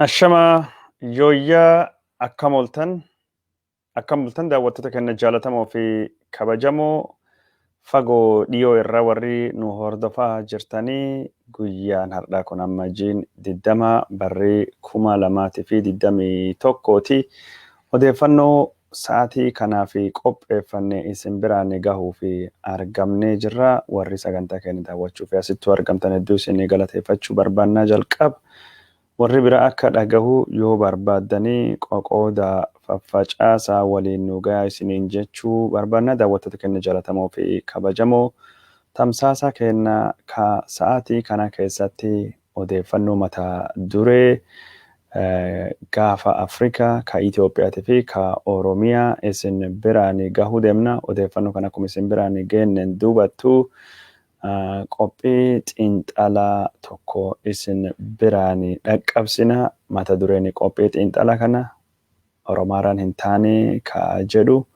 Ashamaa yooyyaa akkam ooltan akkam bultan daawwattoota keenya jaalatamoo fi kabajamoo fagoo dhiyoo irraa warri nu hordofaa jirtanii guyyaan har'aa kun amma jiin digdama barree kuma lamaatii fi digdamii tokkooti Odeeffannoo sa'atii kanaaf qopheeffanne isin biraan gahuuf argamnee jirra. Warri sagantaa keenya daawwachuuf asittuu argamtan hedduu isin galateeffachuu barbaanna. Jalqaba warri bira akka dhagahu yoo barbaaddan qoqoodaa, faffacaasaa, waliin nu gayaa isiniin jechuu barbaanna. Daawwattoota keenya jalatamoo fi kabajamoo tamsaasaa keenya ka sa'atii kana keessatti Odeeffannoo mata duree Gaafa Africa ka Ethiopiati fi ka Oromia isin biraani gahuu deemna. Odeeffannoo kana akkuma isin biraani geennen duubattu qophii xiinxala tokko isin biraani dhaqqabsina. Mata dureeni qophii xiinxala kana Oromaaraan hin taane ka jedhu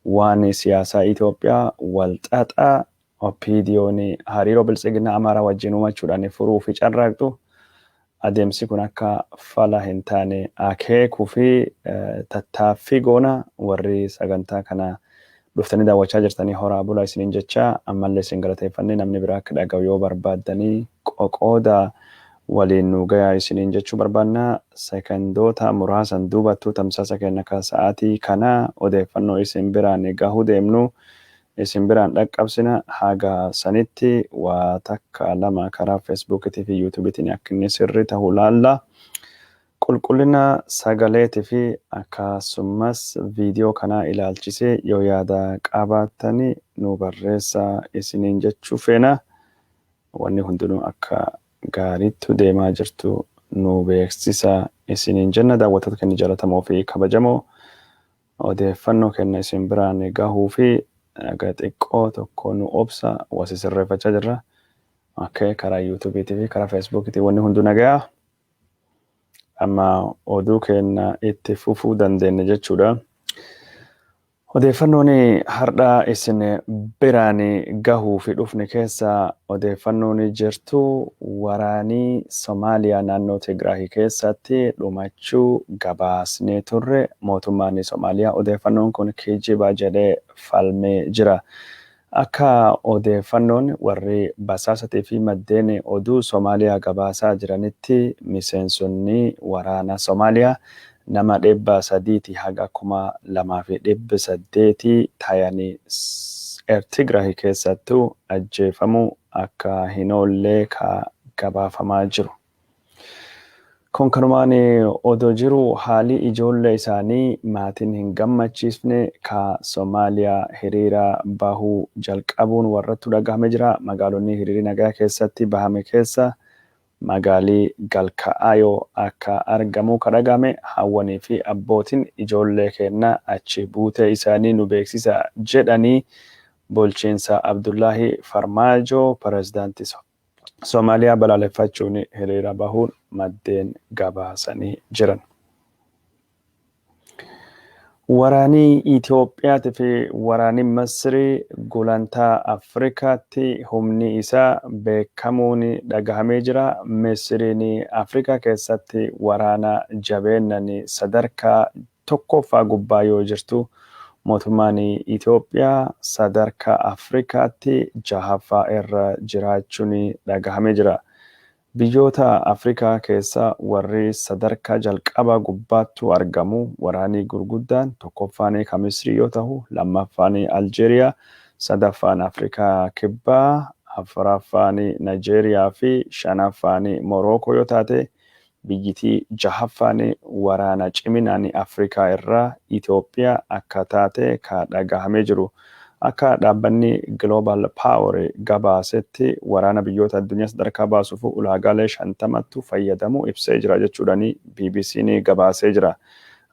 waan siyaasaa Ethiopia walxaxaa OPDOn hariiroo Biltsiginnaa Amaaraa wajjin uumachuudhaan furuuf carraaqxu adeemsi kun akka fala hin taane akeekuu fi tattaaffii goona. Warri sagantaa kana dhuftanii daawwachaa jirtanii horaa bulaa isiniin jechaa ammallee isin galateeffannee namni biraa akka dhaga'u yoo barbaaddanii qoqoodaa waliin nuu gayaa isiniin jechuu barbaanna. Sekondoota muraasan duubattuu tamsaasa keenya ka sa'aatii kanaa odeeffannoo isin biraan gahuu deemnu Isin biraan dhaqqabsina haga sanitti waa takka lama karaa fesbuukitii fi yuutubitiin akka inni sirri tahu laalla. Qulqullina sagaleeti fi akaasummas viidiyoo kanaa ilaalchisee yoo yaada qaabaattani nuu barreessa isiniin jechuu feena. Wanni hundinuu akka gaariittu deemaa jirtu nuu beeksisa isiniin jenna daawwatoota kenna jalatamoo fi kabajamoo. Odeeffanno kenna isin biraan gahuufi aga xiqqoo tokko nu obsa wasi sirreeffachaa jirra ok karaa youtube tifi karaa facebook ti wanni hunduu nagaya amma oduu keenna itti fufuu dandeenna jechuudha odeeffannooni hardha isin biraan gahuufi dhufne keessa odeeffannooni jirti Keessattuu waraani Somaaliyaa naannoo Tigraahi keessatti dhumachuu gabaasnee turre. Mootummaani Somaaliyaa odeeffannoon kun kijiba jedhee falmee jira. Akka odeeffannoon warri basaasati fi maddeen oduu Somaaliyaa gabaasaa jiranitti miseensonni waraana Somaaliyaa nama 300 ti haga 2800 tayani Tigraahi keessattuu ajjeefamuu akka hin oolle ka gabaafamaa jiru. Kun kanumaan odoo jiru haalii ijoolle isaanii maatiin hin gammachiifne ka Somalia hiriira bahuu jalqabuun warrattu dhagahame jira. Magaalonnii hiriiri nagaya keessatti bahame keessa Magaalii Galka'aayo akka argamuu ka dhagahame haawwanii fi abbootin ijoollee keenna achi buutee isaanii nu beeksisaa jedhanii bulchiinsa Abdullahi Farmaajo Pirezidaanti Somaaliyaa balaaleffachuun hiriira bahuun maddeen gabaasanii jiran. Waraanii Itoophiyaatii fi waraanii Masrii gulantaa Afrikaatti humnii isaa beekamuun dhagahamee jira. Mesiriin Afrikaa keessatti waraana jabeennan sadarkaa tokkooffaa gubbaa yoo jirtu mootummaan Itoophiyaa sadarkaa Afrikaatti jahaffaa irra jiraachuun dhagahamee jira. Biyyoota Afrikaa keessa warri sadarkaa jalqabaa gubbaattu argamu. Waraanii gurguddaan tokkoffaanii ka Misrii yoo tahu, lammaffaanii Aljeeriyaa, sadaffaan Afrikaa Kibbaa, afraffaanii Najeeriyaa fi shanaffaanii Morookoo yoo taate, biyyitii jahaffaanii waraana ciminaanii Afrikaa irraa Itoophiyaa akka taate ka dhagahamee jiru. Akka dhaabbanni Global Power gabaasetti waraana biyyoota addunyaa sadarkaa baasuufuu ulaagaalee 50tu fayyadamuu ibsee jira jechuudhaan BBC'n gabaasee jira.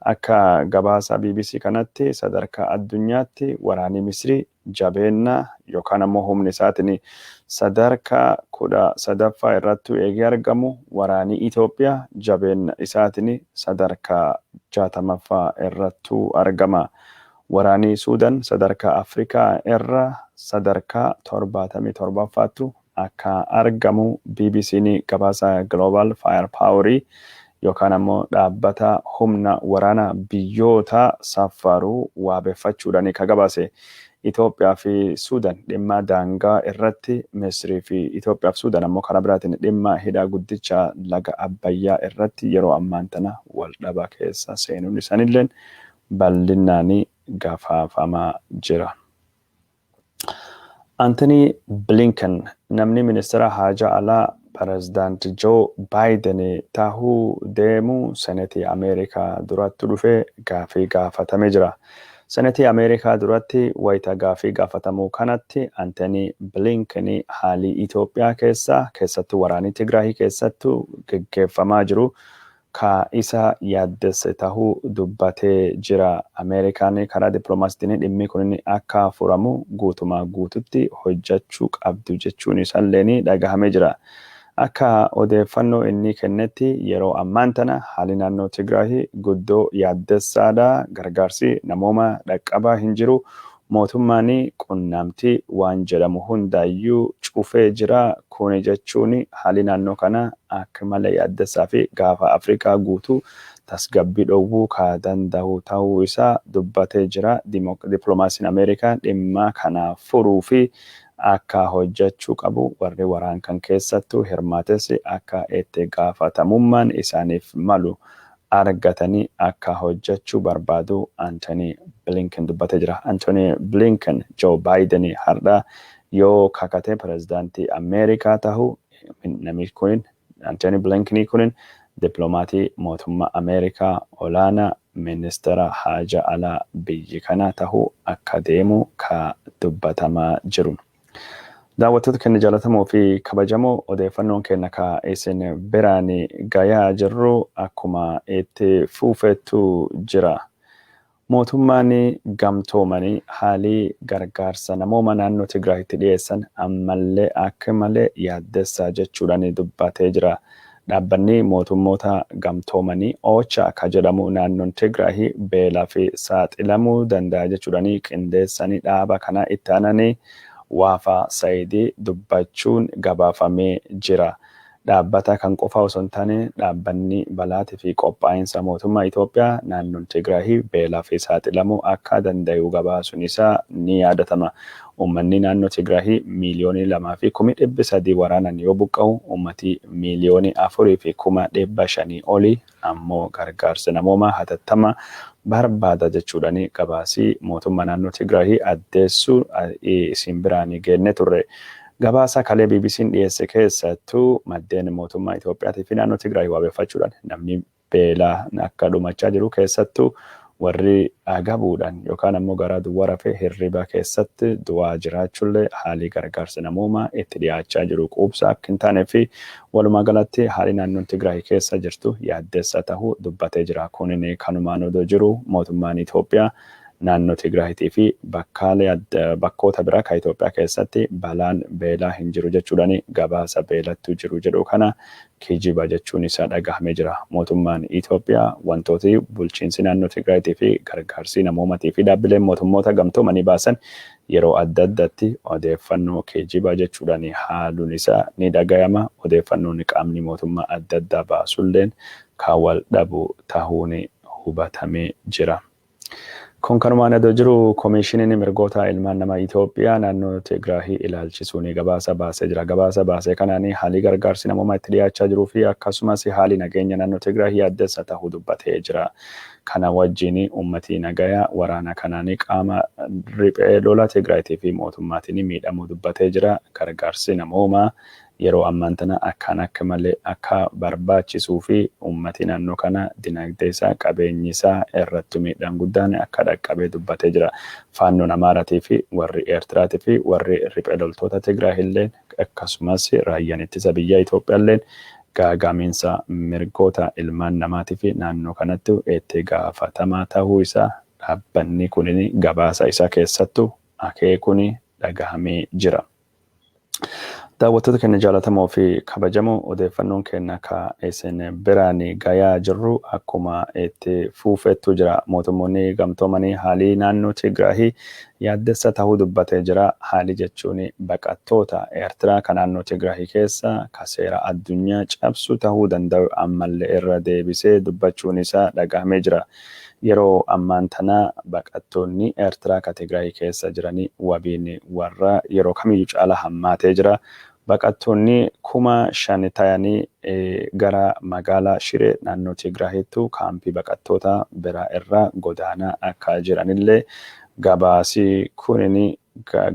Akka gabaasa bbc kanatti sadarkaa addunyaatti waraanii Misrii jabeenna yookaan ammoo humni isaatiin sadarkaa 13ffaa irrattuu eegee argamu waraanii Itoophiyaa jabeenna isaatiin sadarkaa 60ffaa irrattuu argama. Waraanii Suudan sadarkaa Afrikaa irra sadarkaa 77ffaattu akka argamu BBCn gabaasa Global Firepower yookaan ammoo dhaabbata humna waraana biyyoota saffaru waabeffachuudhani ka gabaase. Itoophiyaa fi Suudan dhimma daangaa irratti, Misrii fi Itoophiyaa fi Suudan ammoo karaa biraatin dhimma hidha guddicha laga Abbayyaa irratti yeroo ammaan tana waldhaba keessa seenun isanilleen bal'innaani gafaafamaa jira. Antony Blinken namni ministira haajaa alaa Pirezidaant Joo Baayiden tahuu deemu Senetii Ameerikaa durattu dhufe gaafii gaafatame jira. Senetii Ameerikaa duratti wayita gaafii gaafatamuu kanatti Antony Blinken haalii Itoophiyaa keessaa keessattu waraanii Tigraahi keessattu geggeeffamaa jiru ka isa yaaddesse tahu dubbatee jira. Ameerikaan karaa diplomaasiitiin dhimmi kunin akka furamu guutumaa guututti hojjachuu qabdu jechuun isaalleen dhagahamee jira. Akka odeeffannoo innii kennetti yeroo ammaan tana haalli naannoo Tigraayi guddoo yaaddessaadha, gargaarsi namoomaa dhaqqabaa hin jiru, Mootummaani qunnaamti waan jedhamu hundaayyuu cufee jira kuuni jechuuni haalii naannoo kanaa akk male yaaddessaa fi gaafa Afrikaa guutuu tasgabbii dhowwuu kaa dandahu tahuu isaa dubbatee jira Diplomaasiin Ameerikaa dhimmaa kanaa furuu fi akkaa hojjachuu qabu warri waraan kan keessattuu hirmaatesi akkaa itti gaafatamummaan isaaniif malu argatanii akka hojjachuu barbaadu Antonii Bilinken dubbatee jira. Antonii Bilinken Joo Baayidenii hardha yoo kakatee pirezidaantii Ameerikaa tahu namichi kunin Antonii Bilinkenii kunin diplomaatii mootummaa Ameerikaa olaanaa ministera haaja alaa biyyi kanaa tahuu akka deemu ka dubbatamaa jiru. Daawwattoota keenya jaalatamoo fi kabajamoo odeeffannoon keenya ka isin biraan gayaa jirru akkuma itti fuufetu jira. Mootummaan gamtoomanii haalii gargaarsa namooma naannoo Tigraayitti dhiyeessan ammallee akka malee yaaddessaa jechuudhaan dubbatee jira. Dhaabbanni Mootummoota Gamtoomanii, OCHA, ka jedhamu naannoon Tigraahi beelaaf saaxilamuu danda'a jechuudhaan qindeessani dhaaba kanaa itti aanani Waafa Sayid dubbachuun gabaafamee jira. Dhaabbata kan qofaa osoo hin taane dhaabbanni balaati fi qophaa'insa mootummaa Itoophiyaa naannoon Tigraahi beelaaf saaxilamuu akka dandayu gabaasuun isaa ni yaadatama. Uummanni naannoo Tigraahi miiliyoonii 2 fi kumi dhibbi 3 waraanaan yoo buqqa'u, uummati miiliyoonii 4 fi kuma dhibba 5 oli ammoo gargaarsa namoomaa hatattamaa barbaada jechuudhaan gabaasi mootummaa naannoo Tigraahi addeessu isin biraan geennee turre. Gabaasa kalee BBC'n dhiyeesse keessattuu maddeen mootummaa Itoophiyaatii fi naannoo Tigraahi waabeffachuudhaan namni beelaan akka dhumachaa jiru keessattuu warri agabuudhaan yookaan ammoo garaa duwwaa rafee hirriba keessatti du'aa jiraachullee haalii gargaarsa namoomaa itti dhiyaachaa jiru quubsaa akka hin taanee fi walumaa galatti haalii naannoon Tigraay keessa jirtu yaaddessa tahuu dubbatee jira. Kunin kanumaan odoo jiru mootummaan Itoophiyaa naannoo Tigraayitii fi bakkaalee adda bakkoota biraa ka Itoophiyaa keessatti balaan beelaa hin jiru jechuudhaan gabaasa beelattuu jiru jedhu kana kijiba jechuun isaa dhagahamee jira. Mootummaan Itoophiyaa wantooti bulchiinsi naannoo Tigraayitii fi gargaarsii namoomatii fi dhaabbileen mootummoota gamtoomanii baasan yeroo adda addatti odeeffannoo kijiba jechuudhaan haaluun isaa ni dhagayama. Odeeffannoon qaamni mootummaa adda addaa baasulleen kan wal dhabu tahuun hubatamee jira. Kun kanumaan adoo jiruu Komiishiniin Mirgoota Ilmaan Namaa Itoophiyaa naannoo Tigraahii ilaalchisuun gabaasa baasee jira. Gabaasa baase kanaan haalii gargaarsi namoomaa itti dhiyaachaa jiruu fi akkasumas haalii nageenya naannoo Tigraahii yaaddessa tahuu dubbatee jira. Kana wajjiin uummatii nagayaa waraana kanaan qaama riphee lola Tigraayitii fi mootummaatiin miidhamuu dubbatee jira. Gargaarsi namoomaa Yeroo ammaan tana akkaan akka malee akka barbaachisuu fi uummatii naannoo kanaa dinagdee isaa, qabeenyi isaa irrattu miidhaan guddaan akka dhaqqabee dubbatee jira. Faannoon Amaaratii fi warri Eertiraatii fi warri riphee loltoota Tigraay illeen akkasumas Raayyaan Ittisa Biyyaa Itoophiyaa illeen gaaga'amiinsa mirgoota ilmaan namaatii fi naannoo kanattu itti gaafatamaa tahuu isaa dhaabbanni kun gabaasa isaa keessattu akeekuun dhagahamee jira. Daawwattoota keenya jaalatamoo fi kabajamoo odeeffannoon keenya ka isin biraan gayaa jirru akkuma itti fuufeettu jira. Mootummoonni gamtoomanii haalii naannoo Tigraahii yaaddessa tahuu dubbatee jira. Haalii jechuun baqattoota Eertiraa ka naannoo Tigraahii keessa ka seera addunyaa cabsu tahuu danda'u ammallee irra deebisee dubbachuun isaa dhagahamee jira. Yeroo ammaan tana baqattoonni Ertiraa ka Tigraay keessa jirani wabiin warra yeroo kamiyyuu caala hammaatee jira. Baqattoonni kuma shan tayani gara magaala Shiree naannoo Tigraahiittu kaampii baqattoota biraa irraa godaana akka jiranille gabaasi kunini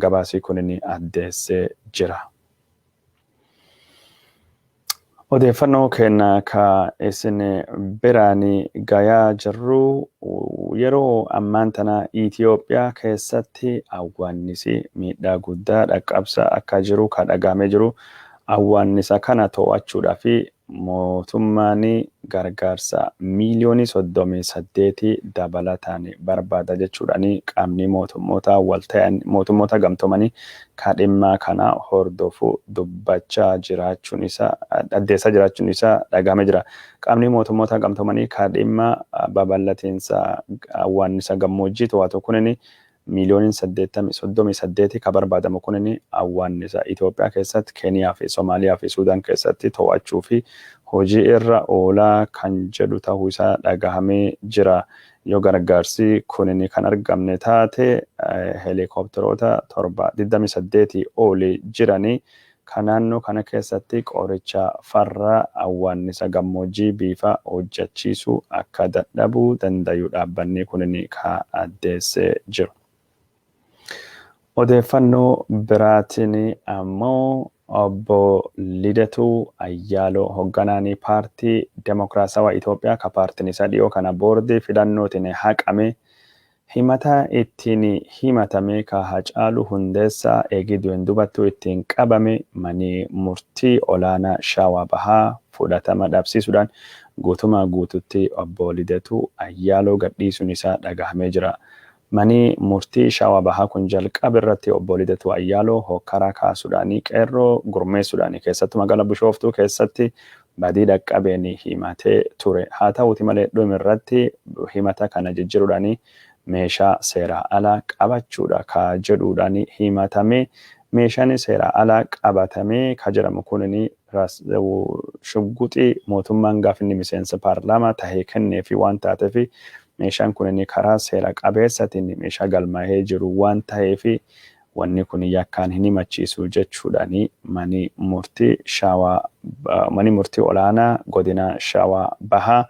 gabaasi kunini addeesse jira. Odeeffannoo keenya ka isin biraan gayaa jirru yeroo ammaan tana Itoophiyaa keessatti awwaannisi miidhaa guddaa dhaqqabsa akka jiru ka dhagahamee jiru awwaannisa kana to'achuudhaa fi Mootummaan gargaarsa miiliyoonii 38 dabalataan barbaada jechuudhaan qaamni mootummootaa waltayan mootummoota gamtoomanii ka dhimmaa kana hordofu dubbachaa jiraachuun isaa addeessaa jiraachuun isaa dhagahame jira. Qaamni mootummoota gamtoomanii ka dhimma babal'atiinsa awwaannisa gammoojjii to'atu kunin miiliyooniin 80, 38, ka barbaadamu kunin awwaannisa Itoophiyaa keessatti, Keeniyaa fi Somaaliyaa fi Suudaan keessatti too'achuu fi hojii irra oolaa kan jedhu tahuu isaa dhagahamee jira. Yoo gargaarsi kunin kan argamne taate, helikopteroota 7, 28 oli jiranii Ka naannoo kana keessatti qoricha farra awwaannisa gammoojjii biifa hojjachiisuu akka dadhabuu dandayu dhaabbannii kunini ka addeesse jiru. Odeeffannoo biraatini ammoo Obbo Lidatuu Ayyaaloo hogganaani paartii Demokraasawa Itoophiyaa ka paartini isaa dhiyoo kana boordii filannootini haqame Himataa ittiin himatamee ka Hacaaluu Hundeessaa eegii du'een dubattuu ittiin qabame mani murtii olaanaa Shawaa Bahaa fudhatama dhabsiisudhaan guutumaa guututti obbo Lidetuu Ayyaaloo gadhiisuun isaa dhagahamee jira. Mani murtii Shawaa Bahaa kun jalqaba irratti obbo Lidetuu Ayyaaloo hookkaraa kaasudhaani qeerroo gurmeesudhaani keessattu magaala Bushooftuu keessatti badii dhaqqabeen himatee ture. Haa ta'uuti malee dhum irratti himata kana jijjiruudhaan meeshaa seeraa alaa qabachuudha ka jedhuudhaan himatame. Meeshaan seeraa alaa qabatame ka jedhamu kun shugguxii mootummaan gaafa inni miseensa paarlaamaa tahee kenneefi waan taateef meeshaan kun karaa seera qabeessatiin meeshaa galmaahee jiru waan taheef wanni kuni yakkaan hin himachiisu jechuudhaan mani murtii Shawaa mani murtii olaanaa godina Shawaa bahaa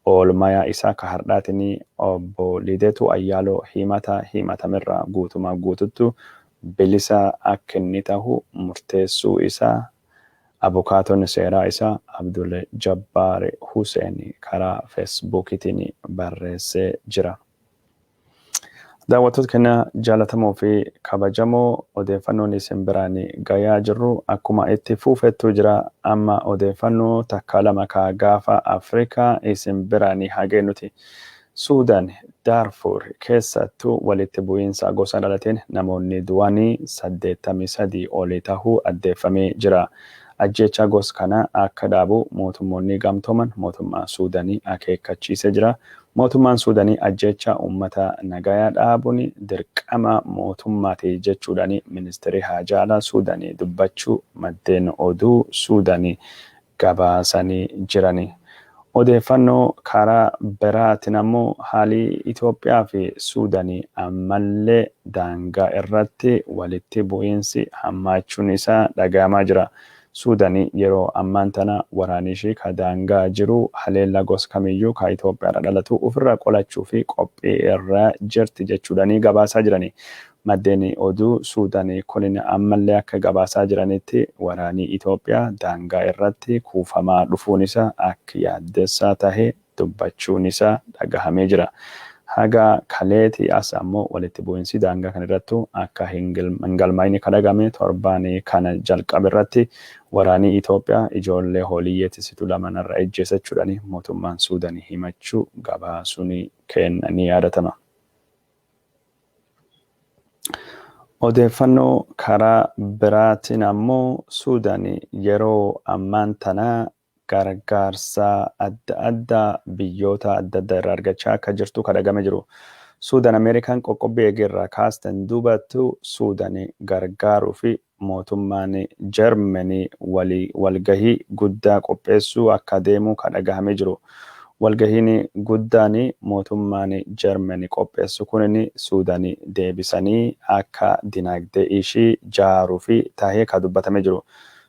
oolmayaa isaa ka hardhaatin obbo Lidetuu Ayyaaloo himata himatamerraa guutumaa guututtu bilisa akka inni tahu murteessuu isaa abukaatoon seeraa isaa Abdul Jabbaar Huseen karaa Feesbuukiitiin barreessee jira. Daawwattoota keenya jaalatamoo fi kabajamoo odeeffannoon isin biraan gayaa jirru akkuma itti fuufettuu jira amma odeeffannoo takkaa lama kaa gaafa Afrikaa isin biraan hagee nuti Suudaan Daarfuur keessattu walitti bu'iinsa gosa dhalateen namoonni du'anii 83 oli tahuu addeeffamee jira Ajjeechaa gos kana akka dhaabu mootummoonnii gamtooman mootummaa Suudani akeekkachiise jira. Mootummaan Suudani ajjeechaa uummata nagaya dhaabuni dirqama mootummaati jechuudhani ministeeri haajaa alaa Suudani dubbachuu maddeen oduu Suudani gabaasani jirani. Odeeffannoo karaa biraatin ammoo haali Itoophiyaa fi Suudani ammallee daangaa irratti walitti bu'iinsi hammaachuun isaa dhagahamaa jira. Suudani yeroo ammaan tana waraani ishii ka daangaa jiru haleellaa gos kamiyyuu ka Itoophiyaa irra dhalatu ufirraa qolachuu fi qophii irra jirti jechuudhani gabaasaa jirani. Maddeen oduu Suudan kunin ammallee akka gabaasaa jiranitti waraanii Itoophiyaa daangaa irratti kuufamaa dhufuun isa akk yaaddessaa tahe dubbachuun isaa dhagahamee jira. Haga kaleeti as ammoo walitti bu'insii daangaa kan irrattu akka hin galmaayine ka dhagahame torbaan kana jalqabe irratti waraanii Itoophiyaa ijoollee hooliyyee tisitu lama narra ejjeesachudhani mootummaan Suudan himachuu gabaasuun keenna ni yaadatama. Odeeffannoo karaa biraatiin ammoo Suudan yeroo ammaan tana gargaarsa adda addaa biyyoota adda addaa irraa argachaa akka jirtu kadhagame jiru. Suudan Ameerikaan qoqqobbii eegeerraa kaasten duubattu Suudan gargaaruu fi Mootummaan Germany walgahii guddaa qopheessuu akka adeemuu ka dhagahamee jiru. Walgahiin guddaan mootummaan Germany qopheessu kunin Sudan deebisanii akka dinaagdee ishii jaaruuf tahee ka dubbatamee jiru.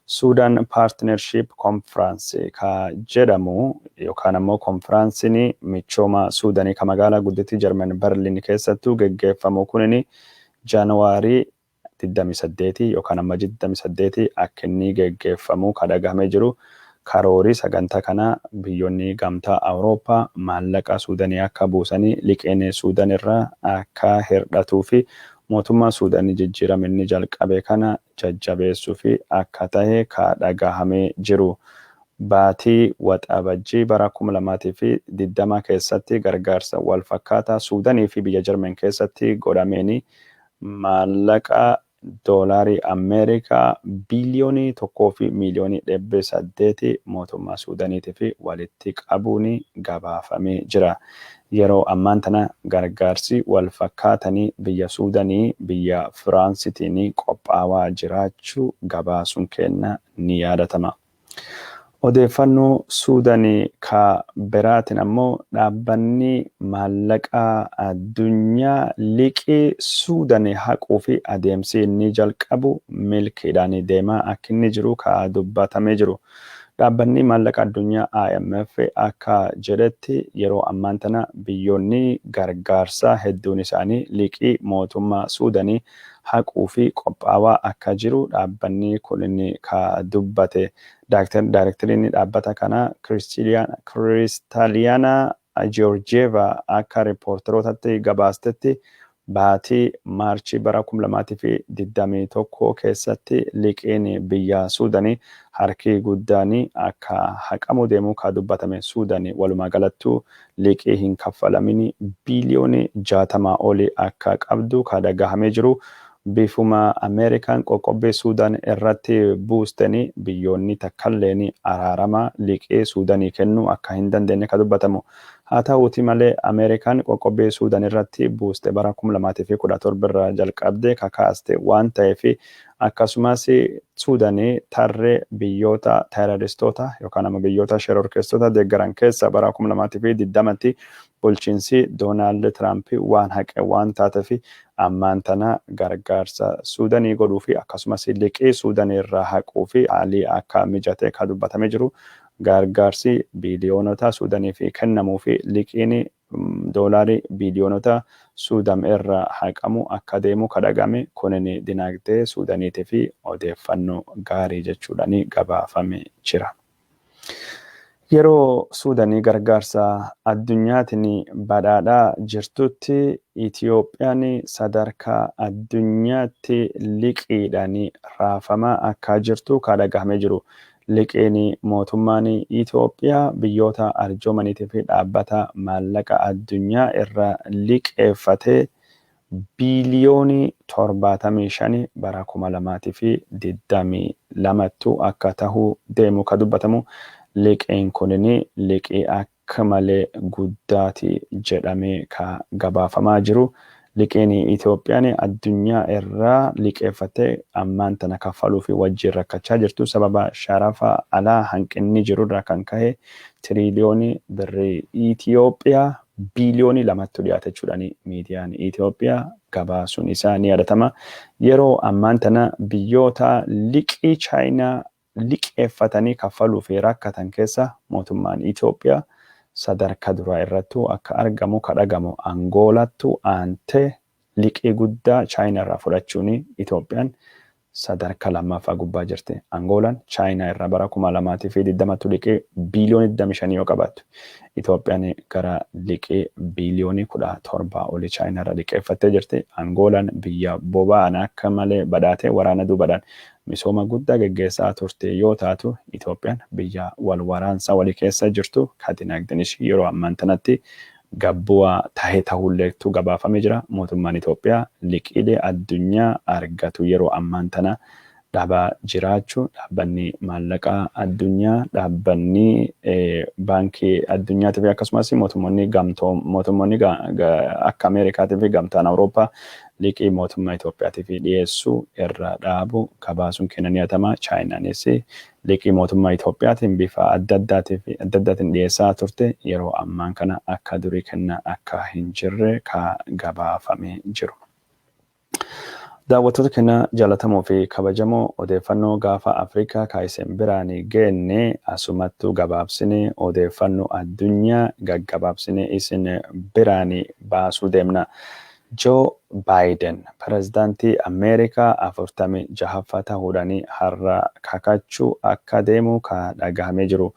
Sudan Partnership Conference ka jedhamu yookaan ammoo konfiraansiin michooma Suudanii ka magaalaa guddittii German Berlin keessattu geggeeffamu kunin January 28 yookaan Ammajii 28 akkinnii geggeeffamuu ka dhagahamee jiru karoorii sagantaa kanaa biyyonnii gamtaa Awurooppaa maallaqa Suudanii akka buusanii liqiin Suudan irraa akka hirdhatuu fi mootummaa Suudanii jijjiirama inni jalqabe kana jajjabeessuuf akka tahe ka dhagahamee jiru baatii Waxabajjii bara 2020 keessatti gargaarsa wal fakkaataa Suudanii fi biyya Jermen keessatti godhameenii maallaqa Doolaarii Ameerikaa biiliyoonii 1 fi miiliyoonii dhibbi 8 mootummaa Suudaaniitiif walitti qabuun gabaafamee jira. Yeroo ammaan tana gargaarsi wal fakkaatan biyya Suudaanii biyya Firaansitiin qophaawaa jiraachuu gabaasuun keenna ni yaadatama. Odeeffannoo Suudani ka biraatin ammoo dhaabbanni maallaqaa addunyaa liqii Suudani haquufi adeemsii innii jalqabu milkiidhaani deemaa akkinnii jiru ka dubbatamee jiru. Dhaabbannii maallaqa addunyaa IMF akka jedhetti yeroo ammaan tana biyyoonnii gargaarsaa hedduun isaanii liqii mootummaa Suudanii haquu fi qophaawaa akka jiru dhaabbanni kunin ka dubbate Daayrektariin dhaabbata kanaa Kiristaaliyaana Jiyoorjiyeeva akka ripoorterootatti gabaastetti baatii Maarchii bara 2021 keessatti liqiin biyya Suudani harki guddaani akka haqamu deemu ka dubbatame Suudani walumaa galattuu liqii hin kaffalamini biiliyooni 60 oli akka qabdu ka dhagahamee jiru bifuma Ameerikaan qoqqobbii Suudan irratti buusteeni biyyoonni takkalleeni araarama liqii Suudanii kennuu akka hin dandeenne ka dubbatamu. Haa tahuutii malee Ameerikaan qoqqobbii Suudan irratti buuste bara 2017 irraa jalqabdee ka kaaste waan taheef Akkasumas Suudan tarree biyyoota teeraristoota yookaan ammoo biyyoota shororkeessitoota deeggaran keessa bara 2020tti bulchiinsi Doonaald Tiraamp waan haqe waan taateef ammaan tana gargaarsa Suudanii godhuufi akkasumas liqii Suudan irraa haquuf haalii akka mijate ka dubbatamee jiru gargaarsi biiliyoonota Suudaniif kennamuufi liqiin Doolaari biiliyoonota Suudam irra haqamu akka deemu ka dhagame kunin dinagdee Suudaniitiif odeeffanno gaarii jechuudhaan gabaafame jira. Yeroo Suudani gargaarsa addunyaatiin badhaadhaa jirtutti Itiyoophiyaan sadarkaa addunyaatti liqiidhaan raafamaa akka jirtu ka dhagahame jiru Liqiin mootummaan Itoophiyaa biyyoota arjoomaniitii fi Dhaabbata Maallaqa Addunyaa irra liqeeffate biiliyoonii 75 bara 2022 ttu akka tahu deemu ka dubbatamu liqiin kunin liqii akka. akka malee guddaa ti jedhamee ka gabaafamaa jiru. Liqiin Itoophiyaan addunyaa irraa liqeeffatte ammaan tana kaffaluuf wajjiin rakkachaa jirtu sababa sharafa alaa hanqinni jiru irraa kan kahe tiriiliyoonii birrii Itoophiyaa biiliyoonii lamattu dhiyaatechuudhaan miidiyaan Itoophiyaa gabaasuun isaa ni yaadatama. Yeroo ammaan tana biyyoota liqii Chaayinaa liqeeffatanii kaffaluuf rakkatan keessa mootummaan Itoophiyaa sadarka duraa irrattu akka argamu ka dhagamu Angoolattu aante liqii guddaa Chaayinaa irraa fudhachuun Itoophiyaan sadarka lammaffaa gubbaa jirti. Angoolaan Chaayinaa irraa bara 2020ttu liqii biiliyoonii 25 yoo qabaattu Itoophiyaan gara liqii biiliyoonii 17 oli Chaayinaa irraa liqeeffattee jirti. Angoolaan biyya boba'aan akka malee badhaate waraana duubadhaan misooma guddaa geggeessaa turte yoo taatu, Itoophiyaan biyya wal waraansa walii keessa jirtu ka dinaagdeen ishii yeroo ammaan tanatti gad bu'aa tahe tahulleettu gabaafame jira. Mootummaan Itoophiyaa liqiilee addunyaa argatu yeroo ammaan tana dhabaa jiraachu Dhaabbanni Maallaqaa Addunyaa, Dhaabbanni Baankii Addunyaatifi akkasumas Mootummoonni Gamtoom Mootummoonni akka Ameerikaatifi Gamtaan Awurooppaa liqii mootummaa Itoophiyaatiif dhiyeessu irraa dhaabu ka baasuun keenya ni yaadatama. Chaayinaanis liqii mootummaa Itoophiyaatiin bifa adda addaatiin dhiyeessaa turte yeroo ammaan kana akka durii kennaa akka hin jirre ka gabaafame jiru. Daawwattoota keenya jaalatamoo fi kabajamoo odeeffannoo gaafa Afrikaa ka isin biraan geenne asumattuu gabaabsinee odeeffannoo addunyaa gaggabaabsinee isin biraan baasuu deemna. Joo Baayiden pirezidantii Ameerikaa 46ffaa tahuudhaan har'a kakachuu akka deemu ka dhagahamee jiru.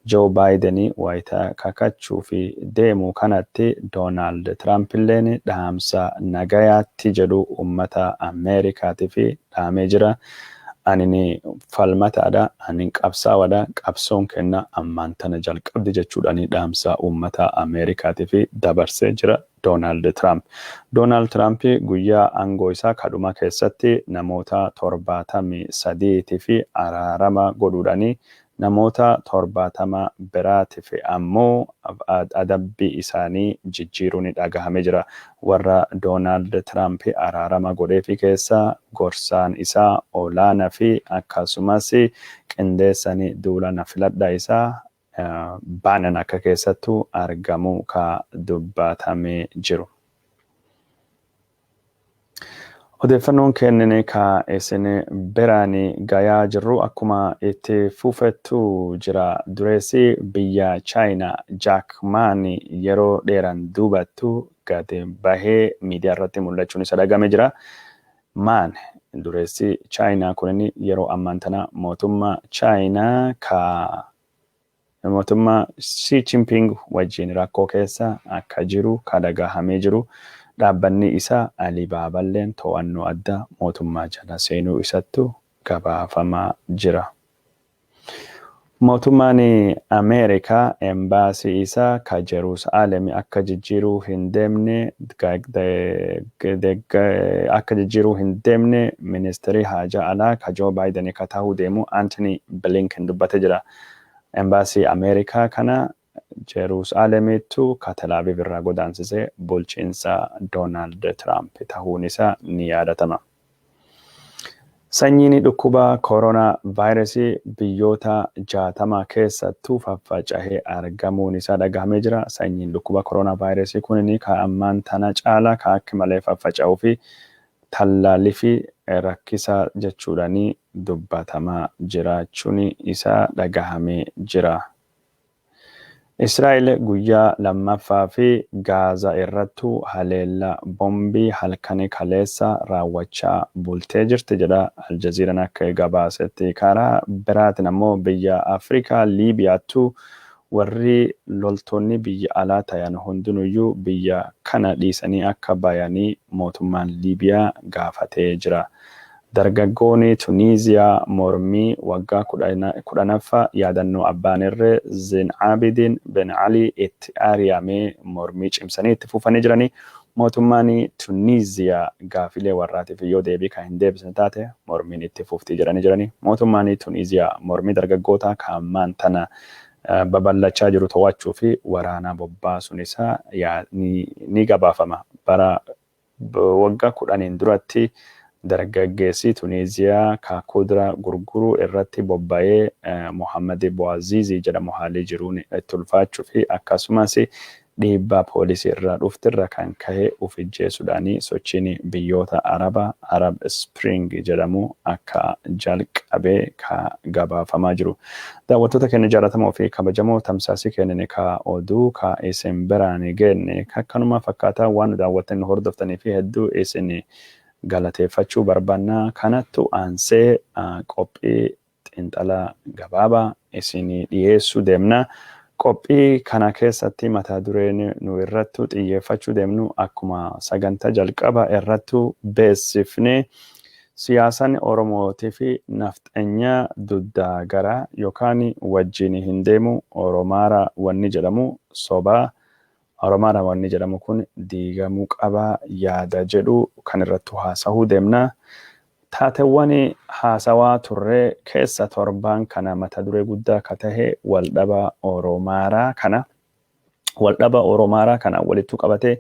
Joo Baayiden wayita kakachuuf deemu kanatti Doonaald Tiraampilleen dhaamsa nagayaatti jedhu ummata Ameerikaatiif dhaamee jira. Ani falmataadha, ani qabsaawaadha, qabsoon keenna ammaan tana jalqabde jechuudhaan dhaamsa ummata Ameerikaatiif dabarsee jira. Doonaald Tiraamp Doonaald Tiraamp guyyaa aangoo isaa ka dhumaa keessatti namoota 73 tifi araarama godhuudhaanii namoota 70 biraatif ammoo adabbii isaanii jijjiiruun dhagahame jira. Warra Doonaald Tiraamp araarama godheefi keessaa gorsaan isaa olaana fi akkasumas qindeessan duula na filadhaa isaa baanan akka keessattu argamu ka dubbatame jiru. Odeeffannoon kennine ka isin biraan gayaa jirru akkuma itti fufettu jira. Dureessi biyya Chaayinaa Jaak Maan yeroo dheeran duubattu gad bahee miidiyaa irratti mul'achuun isa dhagame jira. Maan dureessi Chaayinaa kunini yeroo ammaan tana mootummaa Chaayinaa ka mootummaa Xi Jinping wajjiin rakkoo keessa akka jiru ka dhagahamee jiru. Dhaabbanni isaa Alibaabaalleen too'annoo addaa mootummaa jala seenuu isattu gabaafamaa jira. Mootummaan Ameerikaa Embaasii isaa ka Jeruusaalemi akka jijjiiruu hin deemne akka jijjiiruu hin deemne Ministirii Haajaa Alaa ka Joo Baayideni ka tahuu deemu Antony Blinken dubbate jira. Embaasii Ameerikaa kana Jeruusaalemiittu ka Tel Aviv irraa godaansise bulchiinsa Doonaald Tiraamp tahuun isaa ni yaadatama. Sanyiin dhukkuba koronaa vaayirasii biyyoota 60 keessattuu faffacahee argamuun isaa dhagahamee jira. Sanyiin dhukkuba koronaa vaayirasii kunin ka ammaan tana caalaa ka akka malee faffaca'uu fi tallaalifi rakkisaa jechuudhaan dubbatamaa jiraachuun isaa dhagahamee jira. Israa'el guyyaa lammaffaaf Gaaza irrattu haleella bombii halkani kaleessa raawwachaa bultee jirti jedha Al Jazeeran akka gabaasetti. Karaa biraatin ammoo biyya Afrikaa Liibiyaattu warri loltoonni biyya alaa tayan hundinuyyuu biyya kana dhiisanii akka bayani mootummaan Liibiyaa gaafatee jira. Dargaggooni Tuniiziyaa mormii waggaa 10fa yaadannoo abbaan irree Zeyn Aabidiin Ben Ali itti arii'ame mormii cimsanii itti fuufanii jirani. Mootummaani Tuniiziyaa gaafiilee warraatiif yoo deebii ka hin deebisne taate mormiin itti fuuftii jedhani jirani. Mootummaani Tuniiziyaa mormii dargaggootaa ka ammaan tana baballachaa jiru too'achuufi waraanaa bobbaasuun isaa ni gabaafama. Bara Waggaa kudhaniin duratti dargaggeessi Tuniiziyaa ka kudra gurguru irratti bobbaye Mohammadi Bouazizi jedhamu haalii jiruun itti ulfaachu fi akkasumas dhiibbaa poolisii irraa dhufti irra kan kahe uf ijjeesudhaani sochiin biyyoota Araba Arab Spring jedhamu akka jalqabe ka gabaafamaa jiru. Daawwattoota keenya jaalatamoo fi kabajamoo tamsaasi keenyani kaa oduu kaa isin biraani geenne kakkanuma fakkaata waan nu daawwattani nu hordoftanifi hedduu isini galateeffachuu barbaanna kanattu aansee qophii xiinxala gabaaba isini dhiyeessu deemna qophii kana keessatti mata dureen nu irrattu xiyyeeffachuu deemnu akkuma saganta jalqaba irrattu beessifne Siyaasani Oromootifi Nafxenya dudda gara yokani wajjini hin deemu Oromara wanni jedhamu soba Oromara wanni jedhamu kun diigamu qaba yaada jedhu kan irrattu haasahu demna Taatewwani haasawa turre keessa torbaan kana mata dure gudda ka tahe waldhaba Oromara kana Waldhaba Oromaaraa kanaan walittu qabatee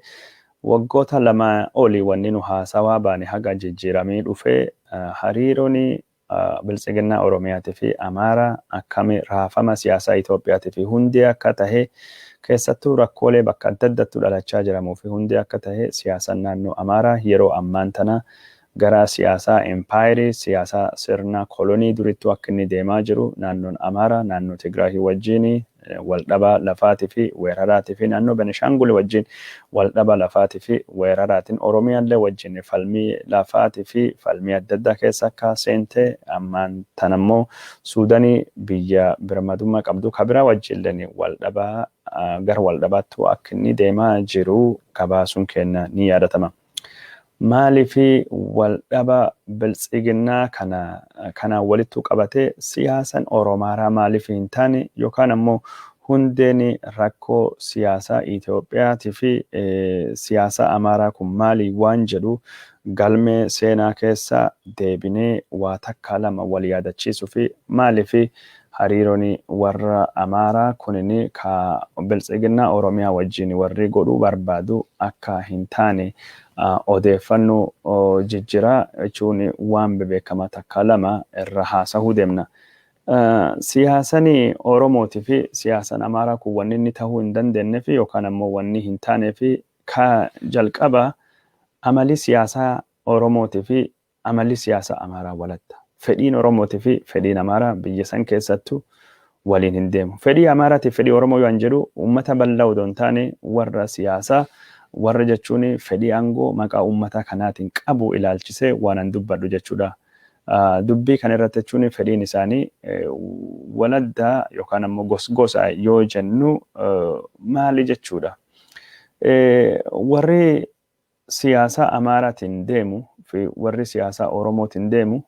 waggoota lamaa oli wanni nu haasawaa baane haga jijjiiramii dhufee hariironi Biltsiginnaa Oromiyaati fi Amaaraa akkami raafama siyaasaa Itoophiyaati fi hundee akka tahee keessattuu rakkoolee bakka adda addattu dhalachaa jiramuu fi hundee akka tahee siyaasan naannoo Amaaraa yeroo ammaan tanaa Gara siyaasaa empaayerii, siyaasaa sirna kolonii durittuu akka inni deemaa jiru, naannoon Amaaraa naannoo Tigraahii wajjiin wal dhaba lafaatii fi weeraraati fi naannoo Beneshaanguli wajjiin wal dhaba lafaatii fi weeraraatiin Oromiyaa illee wajjiin falmii lafaatii fi falmii adda addaa keessa akka seente ammaan tana immoo Suudanii biyya birmadummaa qabdu ka biraa wajjiin illeen wal dhaba gara wal dhabaattuu akka inni deemaa jiru gabaasuun keenna ni yaadatama. Maalifi waldhaba biltsiginnaa kana kanaan walittu qabate siyaasan Oromaaraa maalifi hin taane yookaan ammoo hundeen rakkoo siyaasaa Itoophiyaati fi siyaasaa Amaaraa kun maali waan jedhu galmee seenaa keessa deebinee waa takkaa lama wal yaadachiisufi maalifi Hariironi warra Amaara kunini ka Biltsiginna Oromiyaa wajjini warri godhu barbaadu akka hin taane odeeffanno jijjira jechuun waan bebeekama takka lama irra haasahu demna. Siyaasani Oromootifi siyaasan Amaara kun wanni inni tahu hin dandeennefi yookaan ammoo wanni hin taanefi ka jalqaba amali siyaasa Oromootifi Amalli siyaasa Amaaraa walatta. Fedhiin Oromooti fi fedhiin Amaaraa biyya san keessattu waliin hin deemu. Fedhii Amaaraatiif fedhii Oromoo yoo an jedhu uummata bal'aa odoo hin taane warra siyaasaa, warra jechuun fedhii aangoo maqaa uummataa kanaatiin qabu ilaalchisee waan an dubbadhu jechuudha. Dubbii kana irratti jechuun fedhiin isaanii waladda yookaan ammoo gosgosa yoo jennu maali jechuudha. Warri siyaasaa Amaaraatiin deemu fi warri siyaasaa Oromootiin deemu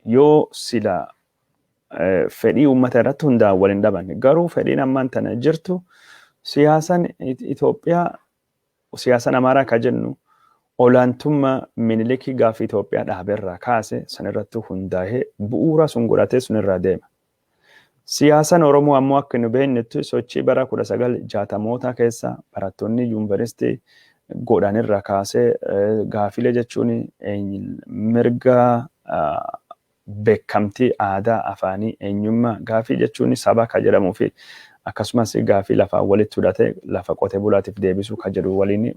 yoo sila fedhii uummata irratti hundaa'an wal hin dhaban. Garuu fedhiin ammaan tana jirtu siyaasan Itoophiyaa siyaasan Amaaraa ka jennu olaantummaa Minilikii gaafa Itoophiyaa dhaaberraa kaase sanirratti hundaa'ee bu'uura sun godhatee sunirraa deema. Siyaasan Oromoo ammoo akka nu beeknutti sochii bara 1960mootaa keessa barattoonni yuunivarsiitii godhan irra kaasee gaafiilee jechuun mirga beekamtii aadaa afaanii eenyummaa gaafii jechuun sabaa ka jedhamuu fi akkasumas gaafii lafaa walitti hudhate lafa qote bulaatiif deebisuu ka jedhu waliin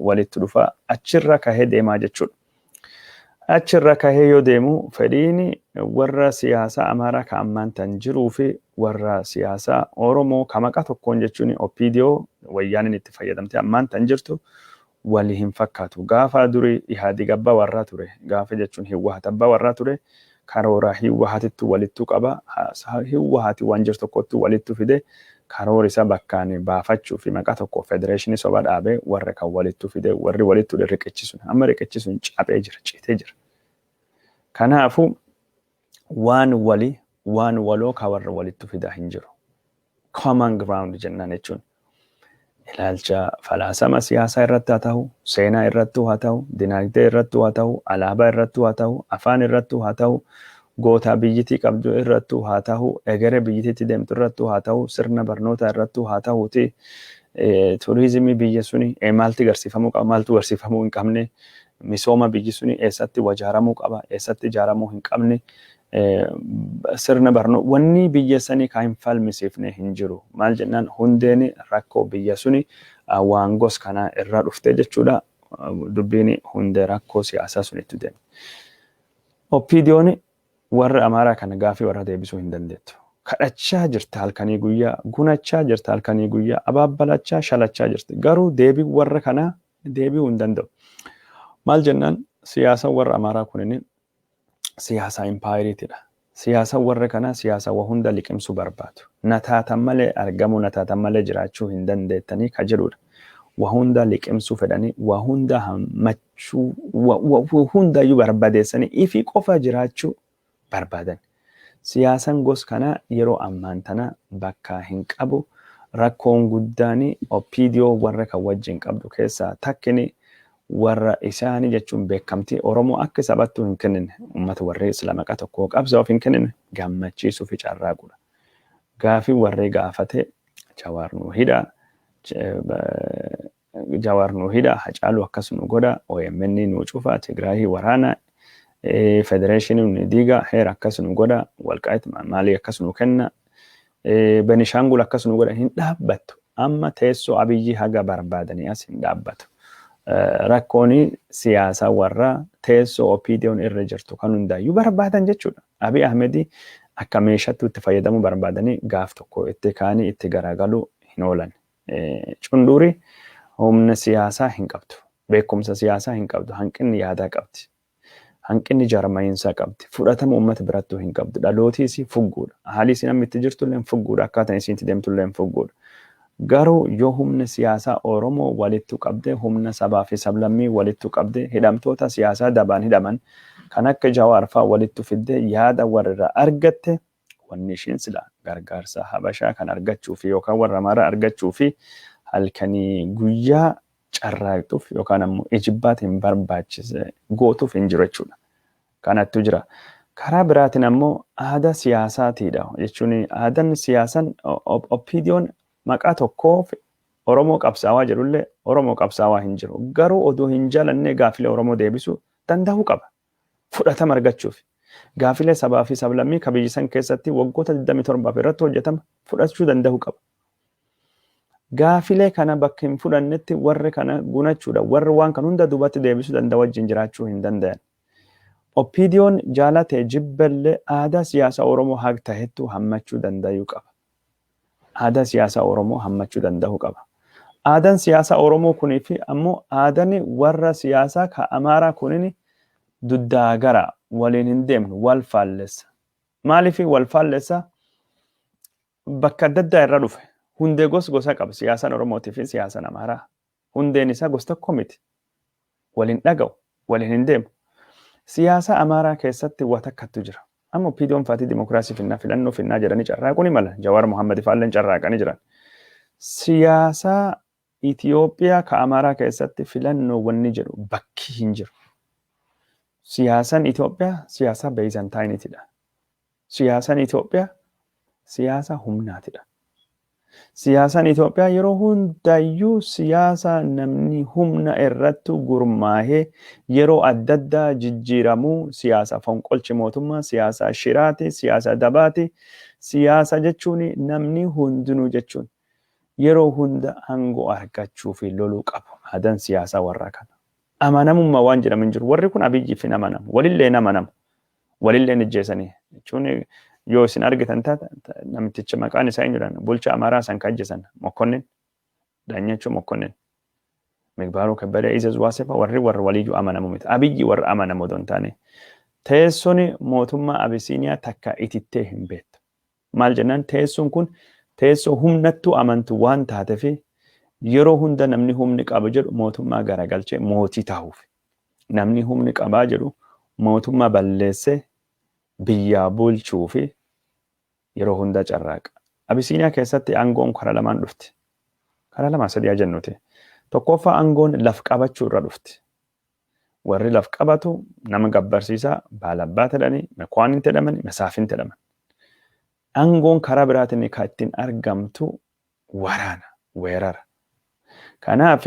walitti dhufaa achirra kahee deemaa jechuudha. Achirra kahee yoo deemu fedhiin warra siyaasaa Amaaraa ka ammaan tan jiruu fi warra siyaasaa Oromoo ka maqaa tokkoon jechuun OPDO wayyaaneen itti fayyadamtee ammaan tan jirtu wali hin fakkaatu. Gaafa duri Ihaadig abbaa warraa ture, gaafa jechuun Hiwwahat abbaa warraa ture, Karoora hiwwahatittu walittu qaba. Hiwwahati wan jiru tokkottu walittu fide karoor isa bakkaan baafachu fi maqaa tokko federeeshini soba dhaabe warra kan walittu fide warri walittu hide riqichi sun amma riqichi sun caphee jira cite jira. Kanaafu waan wali waan waloo ka warra walittu fidaa hin jiru. common ground jennaan jechuun ilaalcha falaasama siyaasaa irratti haa ta'u, seenaa irrattuu haa ta'u, dinagdee irrattuu haa ta'u, alaabaa irrattuu haa ta'u, afaan irrattuu haa ta'u, gootaa biyyitii qabdu irrattuu haa ta'u, egeree biyyitiitti deemtu irrattuu haa ta'u, sirna barnootaa irrattuu haa ta'uuti turizimii biyya suni maalti garsiifamuu qaba, maaltu garsiifamuu hin qabne, misooma biyyi suni eessatti wajaaramuu qaba, eessatti ijaaramuu hin qabne, sirna barnoo wanni biyya sanii kaa hin falmisiifne hin jiru. Maal jennaan hundeen rakkoo biyya suni waan gos kanaa irraa dhufte jechuudha. Dubbiin hundee rakkoo siyaasaa sun itti deeme. OPDOn warra Amaaraa kana gaafii warra deebisuu hin dandeettu. Kadhachaa jirti halkanii guyyaa, gunachaa jirti halkanii guyyaa, abaabbalachaa, shalachaa jirti. Garuu deebii warra kanaa deebi'uu hin danda'u. Maal jennaan siyaasa warra Amaaraa kunini Siyaasa impaayeriitidha. Siyaasa warra kanaa siyaasa wa hunda liqimsu barbaadu. Na taatan malee argamuu na taatan malee jiraachuu hin dandeettanii ka jedhuudha. Wa hundaa liqimsuu fedhanii wa hundaa hammachuu wa wa wa hundaayyuu barbadeessanii ifii qofaa jiraachuu barbaadani. Siyaasan gos kana yeroo ammaan tana bakkaa hin qabu. Rakkoon guddaan opdo warra kan wajjin qabdu keessaa takkini warra isaani jechuun beekamtii Oromoo akk sabattuu hin kennine. Ummata warrii sila maqaa tokkoo qabsaa'uuf hin kennine gammachiisuu fi carraaquudha. Gaafii warrii gaafate Jawaar nuu hidhaa, Jawar nu hidha hacaalu akkas nu godha omn nu cufa tigraahi waraana federation nu diiga heera akkas nu godha walqaayit maalii akkas nu kenna benishangul akkas nu godha hin dhaabbattu amma teessoo abiyyi haga barbaadani as hin dhaabbatu rakkooni siyaasa warra teessoo opdon irra jirtu kan hundaayyuu barbaadan jechuudha abiy ahmedi akka meeshattu itti fayyadamu barbaadani gaaf tokko itti kaani itti garagalu hin oolan Cundhuuri humna siyaasaa hin qabdu. Beekumsa siyaasaa hin qabdu. Hanqinni yaadaa qabdi. Hanqinni jaarmayiinsaa qabdi. Fudhatama uummata birattuu hin qabdu. Dhalootii isii fugguudha. Haalii isiin amma itti jirtulleen fugguudha. Akkaataan isiin itti deemtulleen fugguudha. Garuu yoo humna siyaasaa Oromoo walittu qabdee, humna sabaa fi sablammii walittu qabdee, hidhamtoota siyaasaa dabaan hidhaman kan akka Jawaar faa walittu fiddee yaada warra irraa argatte Wanni ishiin silaa gargaarsa Habashaa kana argachuuf yookaan warra Amaaraa argachuuf halkanii guyyaa carraaqxuuf yookaan ammoo ijibbaata hin barbaachise gootuuf hin jiru jechuudha. Kanattu jira. Karaa biraatiin ammoo aadaa siyaasaatiidha. Jechuun aadaan siyaasan OPDOn maqaa tokkoof Oromoo qabsaawaa jedhullee Oromoo qabsaawaa hin jiru. Garuu odoo hin jaalannee gaaffilee Oromoo deebisuu danda'uu qaba. fudhatama argachuuf gaafilee sabaa fi sablammii ka biyyi san keessatti waggoota 27f irratti hojjetama fudhachuu dandahu qaba. Gaafilee kana bakka hin fudhannetti warri kana gunachuudha warri waan kan hunda dubatti deebisuu danda wajjin jiraachuu hin dandayan. Oppiidiyoon jaalatee jibbellee aadaa siyaasa Oromoo hag tahettuu hammachuu dandayuu qaba. aadaa siyaasaa Oromoo hammachuu danda'uu qaba. Aadaan siyaasaa Oromoo kunii fi ammoo aadani warra siyaasaa ka Amaaraa kunini duddaa garaa, waliin hin deemnu, wal faallessa. Maaliifi wal faallessa? Bakka adda addaa irra dhufe. Hundee gos gosa qaba. Siyaasaan Oromootii fi siyaasaan Amaaraa Hundeen isaa gostokko miti. Wal hin dhaga'u. Waliin hin deemu. Siyaasaa Amaaraa keessatti waa takkattu jira. Amma OPDOn faatii dimokiraasii finnaa, filannoo finnaa jedhanii carraaquu ni malan. Jawaar Mohammad faalleen carraaqanii jiran. Siyaasaa Itiyoophiyaa ka Amaaraa keessatti filannoo wanni jedhu bakki hin jiru. Siyaasan Itiyoophiyaa siyaasaa Beeyizantaayiniitidha. Siyaasan Itoophiyaa siyaasa humnaatidha. Siyaasan Itoophiyaa yeroo hundaayyuu siyaasa namni humna irrattu gurmaahee yeroo adda addaa jijjiiramuu siyaasa fonqolchi mootummaa, siyaasa shiraati, siyaasa dabaati, siyaasa jechuun namni hundinuu jechuun yeroo hunda aangoo argachuu fi loluu qabu. Aadaan siyaasaa warra kana. Amanamummaa waan jedhamu hin jiru. Warri kun Abiyyiif hin amanamu. Walillee hin amanamu. walillee hin ajjeesanii jechuun yoo isin argitan taata namticha maqaan isaa hin jiran bulcha amaaraa san kan ajjeesan mokkonnin daanyachuu mokkonnin migbaaruu kabbada izaz waasefa warri warra waliyyuu amanamu miti abiyyi warra amanamu don taane teessoni mootummaa abisiiniyaa takka itittee hin beektu Maal jennaan teessoon kun teessoo humnattuu amantu waan taateef yeroo hunda namni humni qaba jedhu mootummaa garagalchee mootii tahuuf. Namni humni qabaa jedhu mootummaa balleessee biyyaa bulchuu fi yeroo hunda carraaqa. Abisiiniyaa keessatti aangoon karaa lamaan dhufti. Karaa lamaa sadii haa jennuuti. Tokkoffaa aangoon laf qabachuu irra dhufti. Warri laf qabatu nama gabbarsiisaa baalabbaat jedhani, mekwaanint jedhamani, mesaafint jedhaman. Angoon karaa biraatiin kan ittiin argamtu waraana, weerara. Kanaaf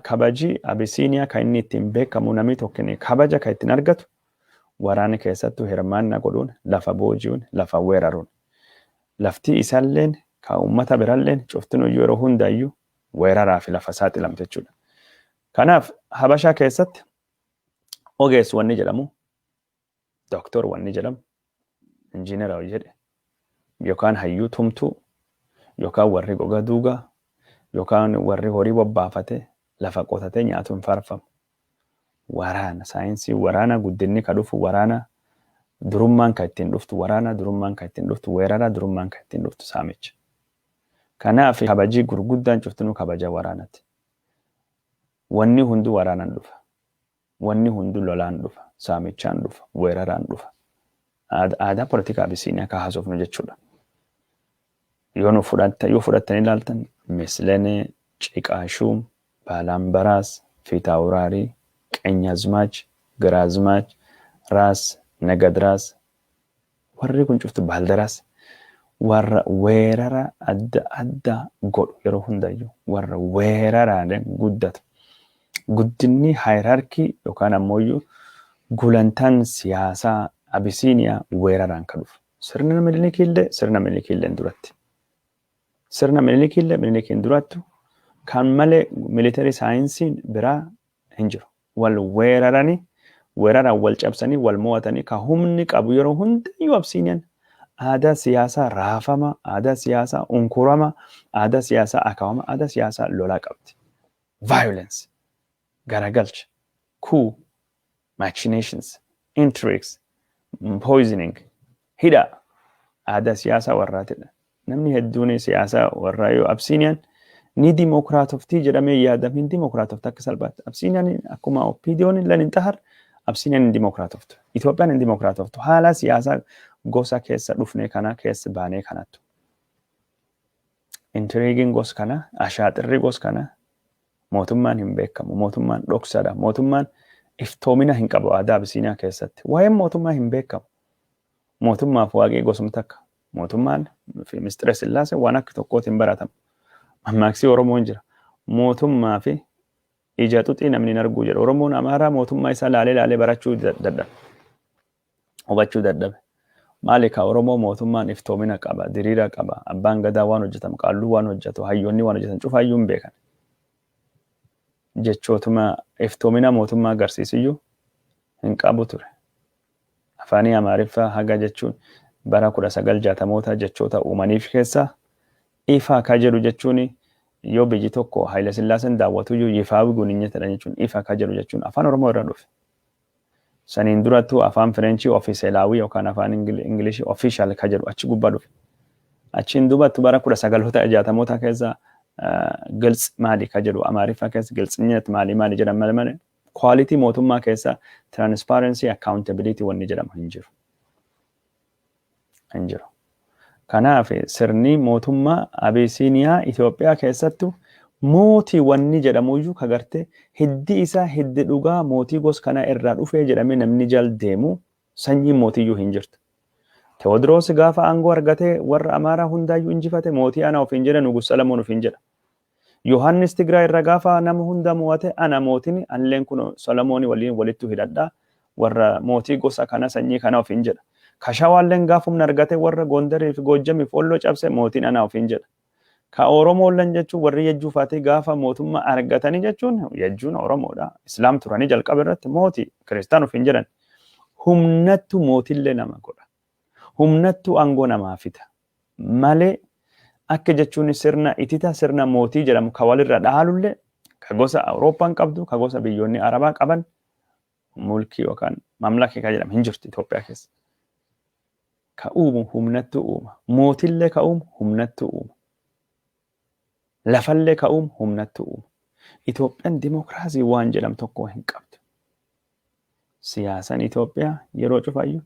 kabaji Abisiiniyaa kan inni ittiin beekamu namni tokkini kabaja kan ittiin argatu waraana keessattuu hirmaannaa godhuun, lafa booji'uun, lafa weeraruun. Lafti isalleen kan uummata biralleen cuftinuyyuu yeroo hundayyuu weeraraaf lafa saaxilamte jechuudha. Kanaaf Habashaa keessatti ogeessi wanni jedhamu, doktor wanni jedhamu, injiinera jedhe, yookaan hayyuu tumtuu, yookaan warri goga duugaa, yookaan warri horii bobbaafate lafa qotatee nyaatu hin faarfamu. Waraana, saayinsii waraana, guddinni ka dhufu waraana, durummaan ka ittiin dhuftu waraana, durummaan ka ittiin dhuftu weerara, durummaan ka ittiin dhuftu saamicha. Kanaaf kabajii gurguddaan cuftinuu kabaja waraanati. Wanni hundu waraanan dhufa. Wanni hundu lolaan dhufa, saamichaan dhufa, weeraraan dhufa. Aadaa polotika Abisiiniyaa ka haasofnu jechuudha. Yoo nu fudhatta, yoo fudhattanii ilaaltan Mislenee, Ciqaashuum, Baalaambaraas, Fiitaawuraarii, Qenyazmaach, Giraazmaach, Raas, Negadraas, Warri kun cufti Baaldaraas warra weerara adda addaa godhu yeroo hundayyuu warra weeraraadhaan guddatu. Guddinni haayiraarkii yookaan ammooyyuu gulantaan siyaasaa Abisiiniyaa weeraraan ka dhufu. Sirna Minilikiillee sirna Minilikiilleen duratti. Sirna Minilikiillee Minilikiin durattu kan malee military saayinsiin biraa hin jiru. wal weerarani weeraraan wal cabsanii wal mo'atanii ka humni qabu yeroo hundayyuu Absiiniyaan aadaa siyaasaa raafamaa, aadaa siyaasaa unkuramaa, aadaa siyaasaa akaawamaa, aadaa siyaasaa lolaa qabdi. Violence, garagalcha, coup, machinations, intrigues, poisoning, hidhaa aadaa siyaasaa warraatidha. Namni hedduun siyaasa warra yoo Absiiniyaan ni dimookiraatoftii jedhamee yaadame hin dimookiraatofte akka salphaatti. Absiiniyaan akkuma OPDOn illee hin xahar Absiiniyaan hin dimookiraatoftu. Itoophiyaan hin dimookiraatoftu. Haala siyaasaa gosa keessa dhufnee kana keessa baanee kanattu. Intiriigiin gos kana, ashaaxirri gos kana mootummaan hin beekamu. Mootummaan dhoksadha. Mootummaan iftoomina hin qabu aadaa Abisiiniyaa keessatti. Waa'een mootummaa hin beekamu. Mootummaa fi Waaqii gosum takka. Mootummaan fi misxira Sillaasee waan akka tokkooti hin baratamu. Mammaaksii Oromoon jira. Mootummaa fi ija xuxii namni hin arguu jedha. Oromoon Amaaraa mootummaa isaa laalee laalee barachuu dadhabe. Hubachuu dadhabe. Maali kaa Oromoo mootummaan iftoomina qaba, diriira qaba, abbaan gadaa waan hojjetamu, qaalluu waan hojjetu, hayyoonni waan hojjetan cufaayyuu hin beekan. Jechootuma iftoomina mootummaa agarsiisiyyuu hin qabu ture. Afaanii Amaariffaa haga jechuun bara 1960mootaa jechoota uumaniif keessaa Ifa ka jedhu jechuun yoo biyyi tokko Hayilasillaaseen daawwatuyyuu Yifaawi Guninyetidha jechuun Ifa ka jedhu jechuun Afaan Oromoo irra dhufe. Saniin durattuu Afaan Fireenchii Ofiseelaawii yookaan Afaan Ingilishii Official ka jedhu achi gubbaa dhufe. Achiin duubattu bara 1900 60mootaa keessa Giltz Maali ka jedhu Amaariffaa keessa Giltzinyet Maali Maali jedhan malee malee Quality mootummaa keessa transparency, accountability wanni jedhamu hin jiru. Hin jiru. Kanaaf sirni mootummaa Abiisiiniyaa Itoophiyaa keessattu mootii wanni jedhamuyyuu ka gartee hiddi isaa hiddi dhugaa mootii gos kanaa irraa dhufee jedhamee namni jal deemu sanyiin mootiyyuu hin jirtu. Tewoodiroos gaafa aangoo argatee warra Amaaraa hundaayyuu injifate mootii ana ofiin jedha Nugus Salamoon ofiin jedha. Yohannis Tigraay irra gaafa nama hunda mo'ate ana mootini anleen kuno Solomooni waliin walittu hidhadha warra mootii gosa kana sanyii kana ofiin jedha. Ka Shawaalleen gaaf humna argate warra Gondarii fi Goojjamii fi Wolloo cabse mootiin anaa ofiin jedha. Ka Oromoolleen jechuun warri Yajjuu faatii gaafa mootumma argatani jechuun Yajjuun Oromoodha. Islaam turani jalqaba irratti mooti Kiristaan ofiin jedhani. Humnattu mootillee nama godha. Humnattuu aangoo namaa fida. Malee akka jechuun sirna itita sirna mootii jedhamu ka walirra dhaalulle ka gosa Awurooppaan qabdu ka gosa biyyoonni Arabaa qaban mulkii yookaan mamlakii ka jedhamu hin jirtu Itoophiyaa keessa. Ka uumu humnattuu uuma. Mootillee ka uumu humnattuu uuma. Lafalle ka uumu humnattu uuma. Itoophiyan dimokraasi waan jedhamu tokko hin qabdu. Siyaasan Itoophiyaa yeroo cufayyu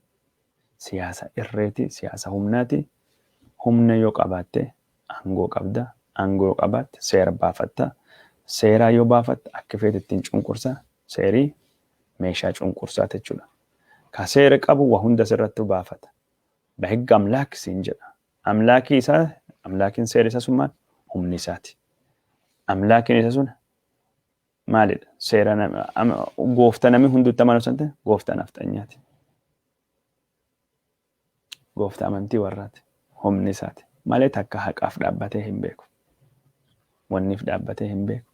siyaasa irreeti, siyaasa humnaati. Humna yoo qabaatte aangoo qabda, aangoo yoo qabaatte seera baafatta. Seeraa yoo baafatte akka feete ittiin cunqursa. Seerii meeshaa cunqursaati jechuudha. Ka seera qabu waa hunda sirrattu baafata. Bahigg amlaak siin jedha. Amlaakii isaa, amlaakiin seera isaa sun maal? Humni isaati. Amlaakiin isa sun maalidha? Seera nama, am- goofta namni hunduutti amanu san ta'e goofta nafxanyaati. Goofta amantii warraati. Humni isaati. Malee takka haqaaf dhaabbatee hin beeku. Wanniif dhaabbatee hin beeku.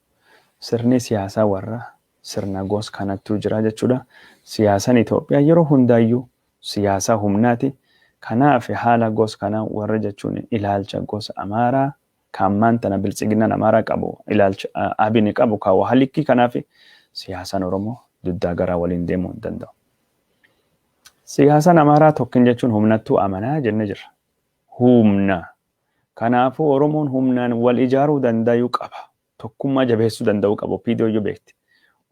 Sirni siyaasaa warraa sirna goos kanattuu jira jechuudha. Siyaasaan Itoophiyaa yeroo hundaayyuu siyaasaa humnaati. Kanaaf haala gos kana warra jechuun ilaalcha gosa Amaaraa ka ammaan tana Biltsiginnaan Amaaraa qabu, ilaalcha ABn qabu ka waha likkii kanaaf siyaasaan Oromoo duddaa garaa waliin deemuu hin danda'u. Siyaasaan Amaaraa tokkin jechuun humnattuu amanaa jenne jirra. Humna. Kanaafuu Oromoon humnaan wal ijaaruu dandayuu qaba. tokkummaa jabeessuu danda'uu qabu. Opiidiyoo iyyuu beekti.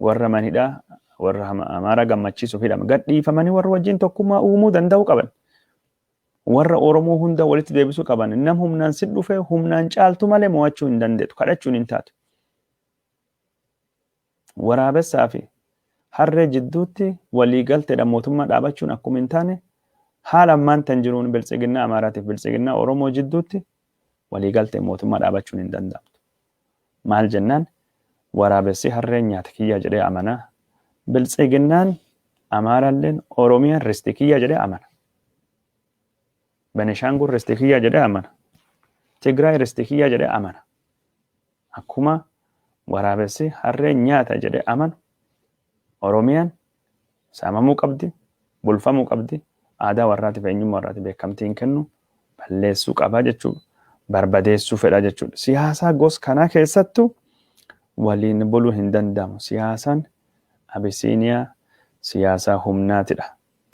Warra manidha, warra hama- amaaraa gammachiisuuf hidhama. Gad dhiifamanii warra wajjin tokkummaa uumuu danda'uu qaban. Warra Oromoo hunda walitti deebisuu qaban. Nam humnaan si dhufe humnaan caaltu malee mo'achuu hin dandeetu. Kadhachuun hin taatu. Waraabessaa fi Harree jidduutti waliigalteedhaan mootummaa dhaabachuun akkuma hin taane haala ammaan tan jiruun Biltsiginnaa Amaaraatiif Biltsiginnaa Oromoo jidduutti waliigalteen mootummaa dhaabachuun hin danda'amtu. Maal jennaan waraabessi harreen nyaata kiyyaa jedhee amana. Biltsiginnaan Amaaraalleen Oromiyaan risti kiyyaa jedhee amana. Benishaangul risti kiyyaa jedhee amana. Tigraay risti kiyyaa jedhee amana. Akkuma waraabessi harreen nyaata jedhee amanu Oromiyaan saamamuu qabdi, bulfamuu qabdi, aadaa warraatiif, eenyummaa warraatiif beekamtii hin kennu, balleessuu qaba jechuu barbadeessuu fedha jechuudha. Siyaasaa gos kanaa keessattu waliin buluu hin danda'amu. Siyaasaan Abisiiniyaa siyaasaa humnaatidha.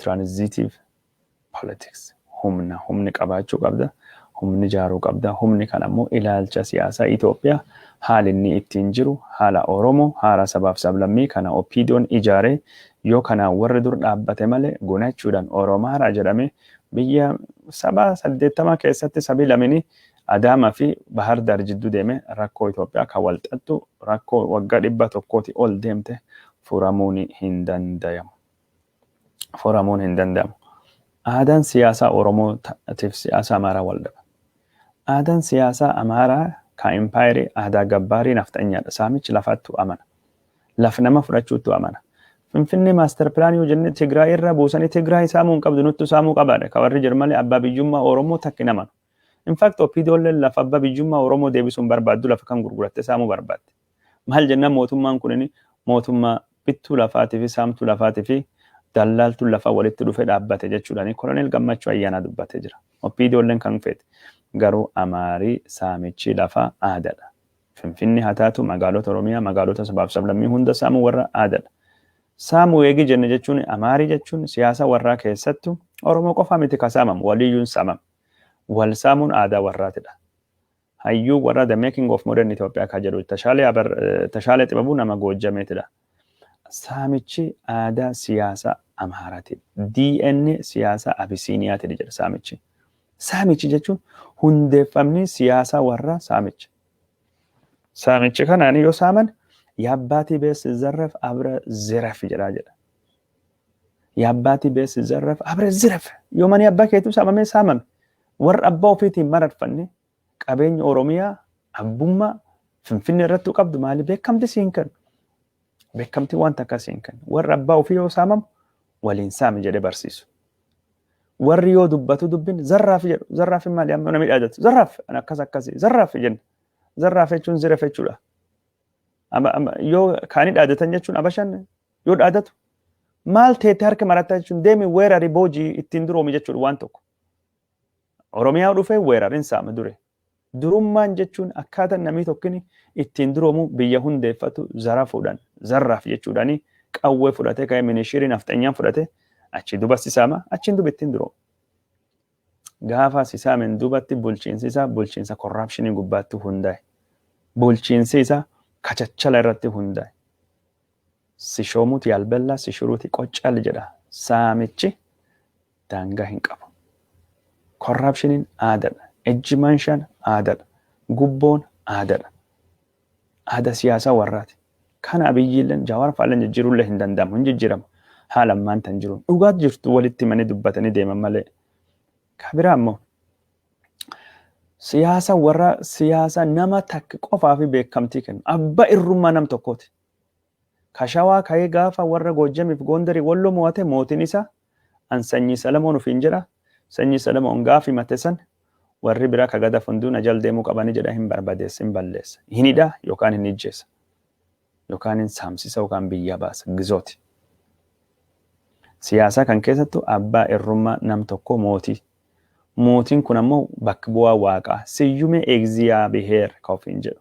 Transitive politics humna humni qabaachuu qabda humni jaaruu qabda humni kan ammoo ilaalcha siyaasaa Ethiopia haal inni ittiin jiru haala oromo haaraa sabaaf sablammii kana opdon ijaare yoo kanaan warri dur dhaabbate male gunachuudhan oromara jedhame biyya saba 80 keessatti sabi lamini adaama fi bahar dar jiddu deeme rakkoo Ethiopia ka wal xaxxu rakkoo wagga 100 ti ol deemte furamuuni hin dandayamu. furamuun hin danda'amu. Aadaan siyaasaa Oromoo tiif siyaasaa Amaaraa wal dhaba. Aadaan siyaasaa Amaaraa kaa impaayerii aadaa gabbaarii nafxanyaadha. Saamichi lafaattuu amana. Laf nama fudhachuuttuu amana. Finfinnee maaster pilaanii yoo jenne Tigraay irraa buusanii Tigraay saamuu hin qabdu nuttu saamuu qabaadha. Ka warri jiru malee abbaa biyyummaa Oromoo takka hin amanu. In fact OPDOlleen lafa abbaa biyyummaa Oromoo deebisuu hin barbaaddu lafa kan gurgurattee saamuu barbaaddi. Maal jennaan mootummaan kunin mootummaa bittuu lafaatii fi saamtuu lafaatii fi dallaaltuun lafaa walitti dhufe dhaabbate jechuudhaan koloneel Gammachuu Ayyaanaa dubbatee jira. Oppiidoolleen kan feete garuu Amaarii saamichii lafaa aadadha. Finfinni haa taatu magaalota Oromiyaa magaalota sabaaf sablammii hunda saamuu warra aadadha. Saamuu eegii jenne jechuun Amaarii jechuun siyaasa warraa keessattu Oromoo qofaa miti ka saamamu waliiyyuun saamama. Wal saamuun aadaa warraatidha. Hayyuu warra The Making of Modern Ethiopia ka jedhu Tashaalee Abar Tashaalee Xibabuu nama Goojjameetidha. Saamichi aadaa siyaasa Amaaraati. DNA siyaasa Abisiiniyaatidha jedha saamichi. Saamichi jechuun hundeeffamni siyaasa warra saamicha. Saamichi kanaan yoo saaman yaabbaatii beessi zarraf abra ziraf jedhaa jedha. Yaabbaatii beessi zarraf abra ziraf yoomanii abbaa keetu saamamee saamame. Warra abbaa ofiitii hin mararfanne qabeenya Oromiyaa abbummaa Finfinnee irrattuu qabdu maali beekamti siin kennu. Beekamti waan takka siin kennu. Warra abbaa ofii yoo saamamu waliin saami jedhee barsiisu. Warri yoo dubbatu dubbin zarraaf jedhu. Zarraaf maali amma namni dhaadatu. Zarraaf an akkas akkasi. Zarraaf jenna. Zarraaf jechuun ziraf jechuudha. Yoo kaanii dhaadatan jechuun abashan yoo dhaadatu maal teete harka marataa jechuun deemi weerari boojii ittiin duroomi jechuudha waan tokko. Oromiyaa dhufee weerarin saama dure. Durummaan jechuun akkaatan namii tokkini ittiin duroomu biyya hundeeffatu zarafuudhan, zarraaf jechuudhani qawwee fudhatee ka'ee minishirii nafxenyaan fudhatee achii duba si saama achiin duba ittiin durooma. Gaafa si saamen dubatti bulchiinsi isaa bulchiinsa korraapshinii gubbaatti hundaa'e. Bulchiinsi isaa kachachala irratti hundaa'e. Si shoomuuti yaalbellaa si shuruuti qoccal jedha saamichi daangaa hin qabu. Korraapshiniin aadadha. Ejji maanshaan aadadha. Gubboon aadadha. Aadaa siyaasaa warraati. Kana Abiyyiilleen Jawaar fa'aalleen jijjiiruullee hin danda'amu, hin jijjiirama. Haala ammaan tan jiruun. Dhugaatu jirtu walitti himanii dubbatanii deeman malee. Ka biraa immoo siyaasa warra siyaasa nama takka qofaa fi beekamtii kennu. Abba irrummaa nam tokkooti. Ka Shawaa ka'ee gaafa warra Goojjamiif Goondarii Wollo moo'ate mootiin isa, An sanyii Salamoon ufiin jedha, sanyii Salamoon gaafa himate san warri biraa ka Gadaa funduu na jal deemuu qabani jedha hin barbadeessa, hin balleessa, hin hidha yokaan hin ijjeesa, yokaan hin saamsisa yokaan biyyaa baasa, gizooti. Siyaasaa kan keessattu abbaa irrummaa nam tokkoo mootii. Mootiin kun ammoo bakka bu'aa Waaqaa, Siyyumee Egziyaabiheer ka ufiin jedhu.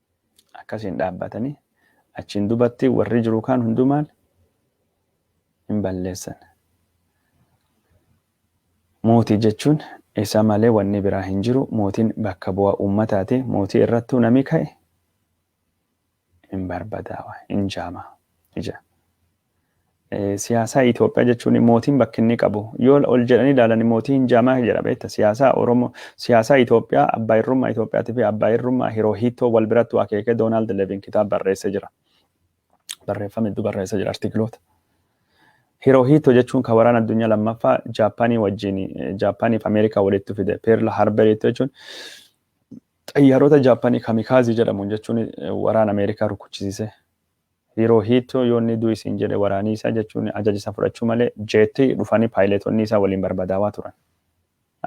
Akkasiin dhaabbatani achiin dubatti warri jiru kaan hunduu maal? Hin balleessan. Mootii jechuun isa malee wanni biraa hin jiru. Mootiin bakka bu'aa uummataati. Mootii irrattuu nami ka'e hin barbadaawa, hin jaama. Ija. siyaasaa Itoophiyaa jechuun mootiin bakki inni qabu yoo ol jedhanii ilaalan mootii hin jaamaa jedha beekta siyaasaa Oromoo siyaasaa Itoophiyaa abbaa irrummaa Itoophiyaatii fi abbaa irrummaa Hiroohiitoo wal birattu akeekee Doonaald Leevin kitaaba barreessee jira. Barreeffama hedduu barreessee jira artikiloota. Hiroohiitoo jechuun kan waraana addunyaa lammaffaa Jaappaanii wajjin Jaappaanii fi Ameerikaa walitti fide Peerl Harberiitoo jechuun xayyaarota Jaappaanii kamikaazii jedhamuun jechuun waraana Ameerikaa rukuchisiisee Hirohiitoo yoo inni du'i siin jedhe waraanii isaa jechuun ajaja isa fudhachuu malee jeetti dhufani paayileetonnii isaa waliin barbadaawaa turan.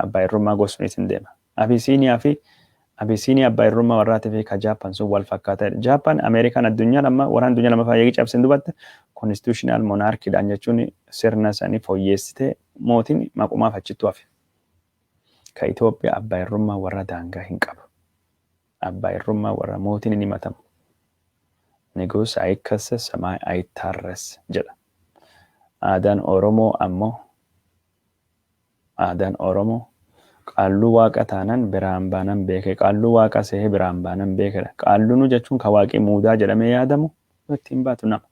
Abbaa irrummaa gosunis hin deema. Abisiiniyaa fi Abisiiniyaa abbaa irrummaa warraati fi ka Jaappan sun wal fakkaata jedhe. Jaappan Ameerikaan addunyaan amma waraan addunyaa lamaffaa yeegi cabsin dubatte constitutional monarchy dhaan jechuun sirna sani foyyeessitee mootin maqumaaf achittu hafe. Ka Itoophiyaa abbaa irrummaa warraa daangaa hin qabu. Abbaa irrummaa warra mootiin hin himatamu. Niguus ayikkassa samaay ayittaarras jedha. Aadaan Oromoo ammo Aadaan Oromoo Qaalluu Waaqa taanan biraan baanan beeke Qaalluu Waaqaa seehee biraan baanan beekedha. Qaalluunuu jechuun ka Waaqii muudaa jedhamee yaadamu yoo ittiin baatu nama.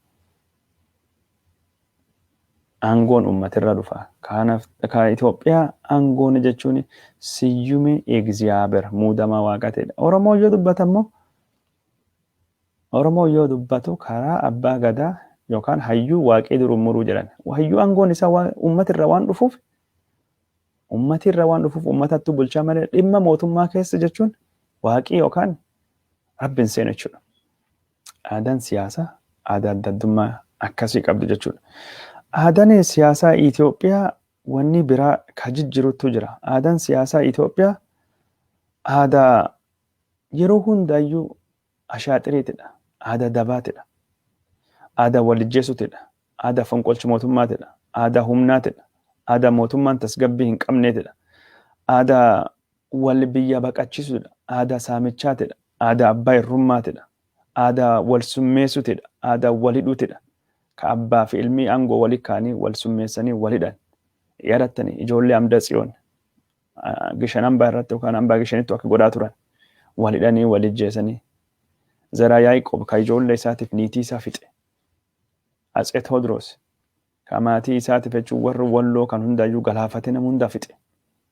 Aangoon ummatirra dhufa. Kaanaf ka Itoophiya aangooni jechuun siyyume Egziaber, muudamaa Waaqa ta'edha. Oromoon yoo dubbata immoo Oromoon yoo dubbatu karaa abbaa gadaa yookaan hayyuu waaqii duruun muruu jedhan. Hayyuu aangoon isaa waa, ummatirra waan dhufuuf ummatirra waan dhufuuf ummatattu bulchaa malee dhimma mootummaa keessa jechuun waaqii yookaan rabbi hin seenu jechuudha. Aadaan siyaasaa aadaa adda addummaa akkasii qabdi jechuudha. Aadaan siyaasaa Itoophiyaa wanni biraa ka jijjirutu jira. Aadaan siyaasaa Itoophiyaa aadaa yeroo hundaayyuu ashaaxireetidha. Aadaa dabaatidha. Aadaa walijjeesutidha. Aadaa fonqolchi mootummaatidha. Aadaa humnaatidha. Aadaa mootummaan tasgabbii hin qabneetidha. Aadaa wal biyyaa baqachisudha aadaa saamichaatidha aadaa abbaa irrummaatidha aadaa wal summeesutidha aadaa wal hidhutidha ka abbaa fi ilmii angoo wali kaanii wal summeessanii wal hidhan yadattani ijoollee amda tsiyoon gishan ambaa irratti yookaan ambaa gishanittu akka godhaa turan wal hidhanii wal ijjeesanii zaraa yaa'iqoob ka ijoollee isaatiif niitii isaa fixe atse toodroos ka maatii isaatiif jechuun warri walloo kan hundaayyuu galaafate nama hundaa fixe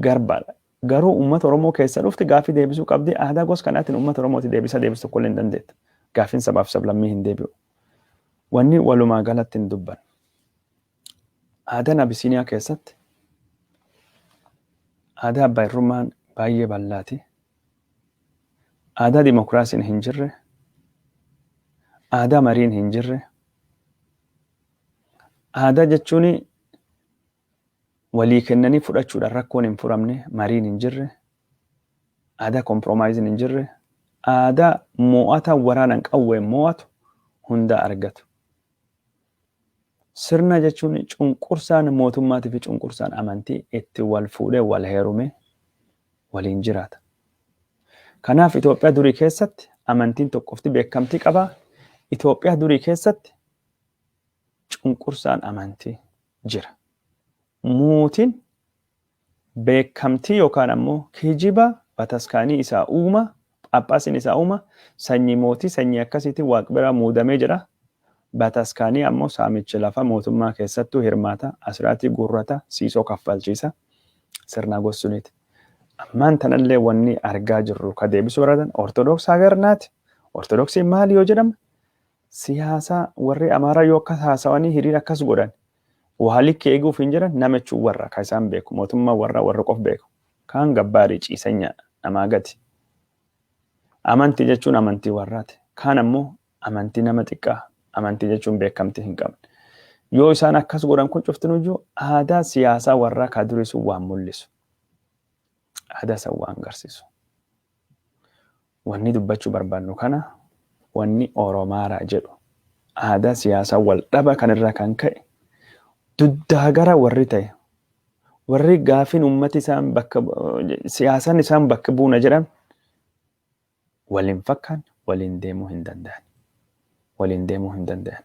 garbaadha. Garuu uummata Oromoo keessa dhufti gaaffii deebisuu qabdi. Aadaa gos kanaatiin uummata Oromooti deebisaa deebisu tokko illee hin dandeettu. Gaaffiin sabaaf sablammii hin deebi'u. Wanni walumaa galatti hin dubbanne. Aadaan Abisiiniyaa keessatti aadaa abbaa irrummaan baay'ee bal'aati. Aadaa dimokiraasiin hin jirre, aadaa mariin hin jirre, aadaa jechuun walii kennanii fudhachuudhaan rakkoon hin furamne, mariin hin jirre, aadaa kompromaayiziin hin jirre, aadaa moo'ataan waraanaan qawween moo'atu hundaa argatu. Sirna jechuun cunqursaan mootummaatii fi cunqursaan amantii itti wal fuudhee wal heerumee waliin jiraata. Kanaaf Itoophiyaa durii keessatti amantiin tokkofti beekamtii qaba. Itoophiyaa durii keessatti cunqursaan amantii jira. Mootin beekkamtii yookaan ammoo kijiba bataskaanii isaa uuma, phaaphaasiin isaa uuma, sanyii mootii sanyii akkasiitiin Waaq biraa muudamee jira, bataskaanii ammoo saamichi lafa mootummaa keessattuu hirmaata, asiraatii guurrata, siisoo kaffalchiisa, sirnaa gossuniiti. Ammaan tanallee wanni argaa jirru ka deebisuu barbaadan Ortodoks hagar naati, Ortodoksiin maali yoo jedhame, Siyaasaa warrii Amaaraa yoo akkas haasawanii hiriira akkas godhan waa likkii eeguuf hin jiran nama jechuun warra kan isaan beeku mootummaa warra warra qof beeku kaan gabbaarii ciisanya namaa gati amantii jechuun amantii warraati kaan ammoo amantii nama xiqqaa amantii jechuun beekamtii hin qabne yoo isaan akkas godhan kun cuftinuyyuu aadaa siyaasaa warraa kaa durii sun waan mul'isu aadaa san waan garsiisu Wanni dubbachu barbaannu kana wanni Oromara jedhu aadaa siyaasa wal dhaba kan irra kan ka'e duddaa gara warri ta'e warri gaafin ummati isaan bakka siyaasan isaan bakka buuna jedhan wal hin fakkaan waliin deemuu hin danda'an. waliin deemuu hin dandayan.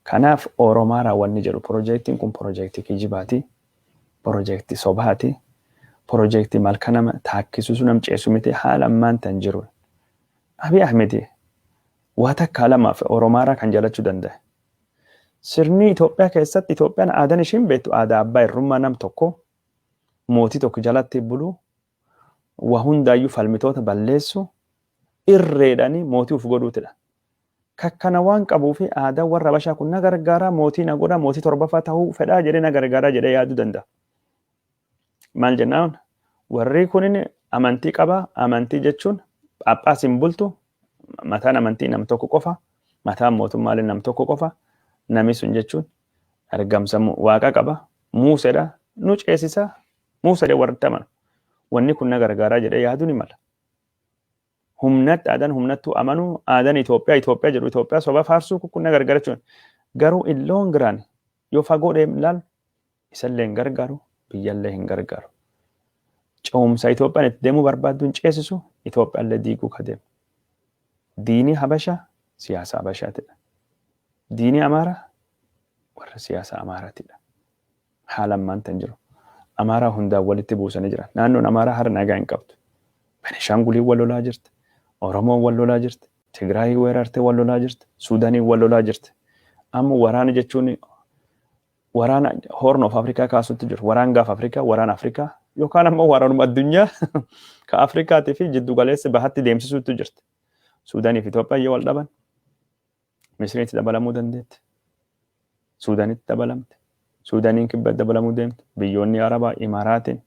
Kanaaf Oromaaraa wanni jedhu pirojektiin kun pirojektii kijibaati, pirojektii sobaati, pirojektii malka nama taakkisusu nam ceessu miti haala ammaan tan jiruun. Abiy Ahmedi waa takkaa lamaaf Oromaaraa kan jalachuu dandaye. Sirnii Itoophiyaa keessatti Itoophiyaan aadan ishiin beettu aadaa abbaa irrummaa nam tokkoo mootii tokko jalatti buluu waa hundaayyuu falmitoota balleessu irreedhani mootii uf godhuutidha. Kakkana waan qabuufi aadaan warra Habashaa kun na gargaara, mootii na godha, mootii torbaffaa tahuu fedha jedhee na gargaara jedhee yaaduu danda'a. Maal jennaan warri kunin amantii qaba, amantii jechuun phaaphaas hin bultu, mataan amantii nam tokko qofa, mataan mootummaalee nam tokko qofa, nami sun jechuun ergamsa waaqa qaba, muusedha, nu ceesisa, Muusa jedhe warratti amanu. Wanni kun na gargaaraa jedhee yaaduu ni mala. Humnatti aadan humnattuu amanu aadan Itoophiyaa Itoophiyaa jedhu Itoophiyaa soba faarsuu kun na gargaara jechuun garuu in long run yoo fagoo deemnu ilaalu isallee hin gargaaru biyyallee hin gargaaru. Ce'umsa Itoophiyaan itti deemuu barbaaddu hin ceesisu Itoophiyaallee diiguu ka deemu. Diinii Habashaa siyaasa Habashaatidha. Diinii Amaaraa warra siyaasa Amaaraatidha. Haala ammaan tan jiru Amaaraa hundaan walitti buusanii jiran. Naannoon Amaaraa har'a nagaa hin qabdu. Beneshaanguliin wal lolaa jirti. Oromoon wal lolaa jirti. Tigraayi weerartee wal lolaa jirti. Suudaniin wal lolaa jirti. Amma waraana jechuun waraana Horn of Afrikaa kaasutti jiru. Waraan gaaf Afrikaa, waraan Afrikaa yookaan ammoo waraanuma addunyaa ka Afrikaatii fi jiddu galeessa bahatti deemsisuutti jirti. Suudaanii fi Itoophiyaan yoo wal dhaban Misiritti dabalamuu dandeetti. Suudaanitti dabalamte. Suudaaniin kibba dabalamuu deemte. Biyyoonni Arabaa, Imaaraatiin,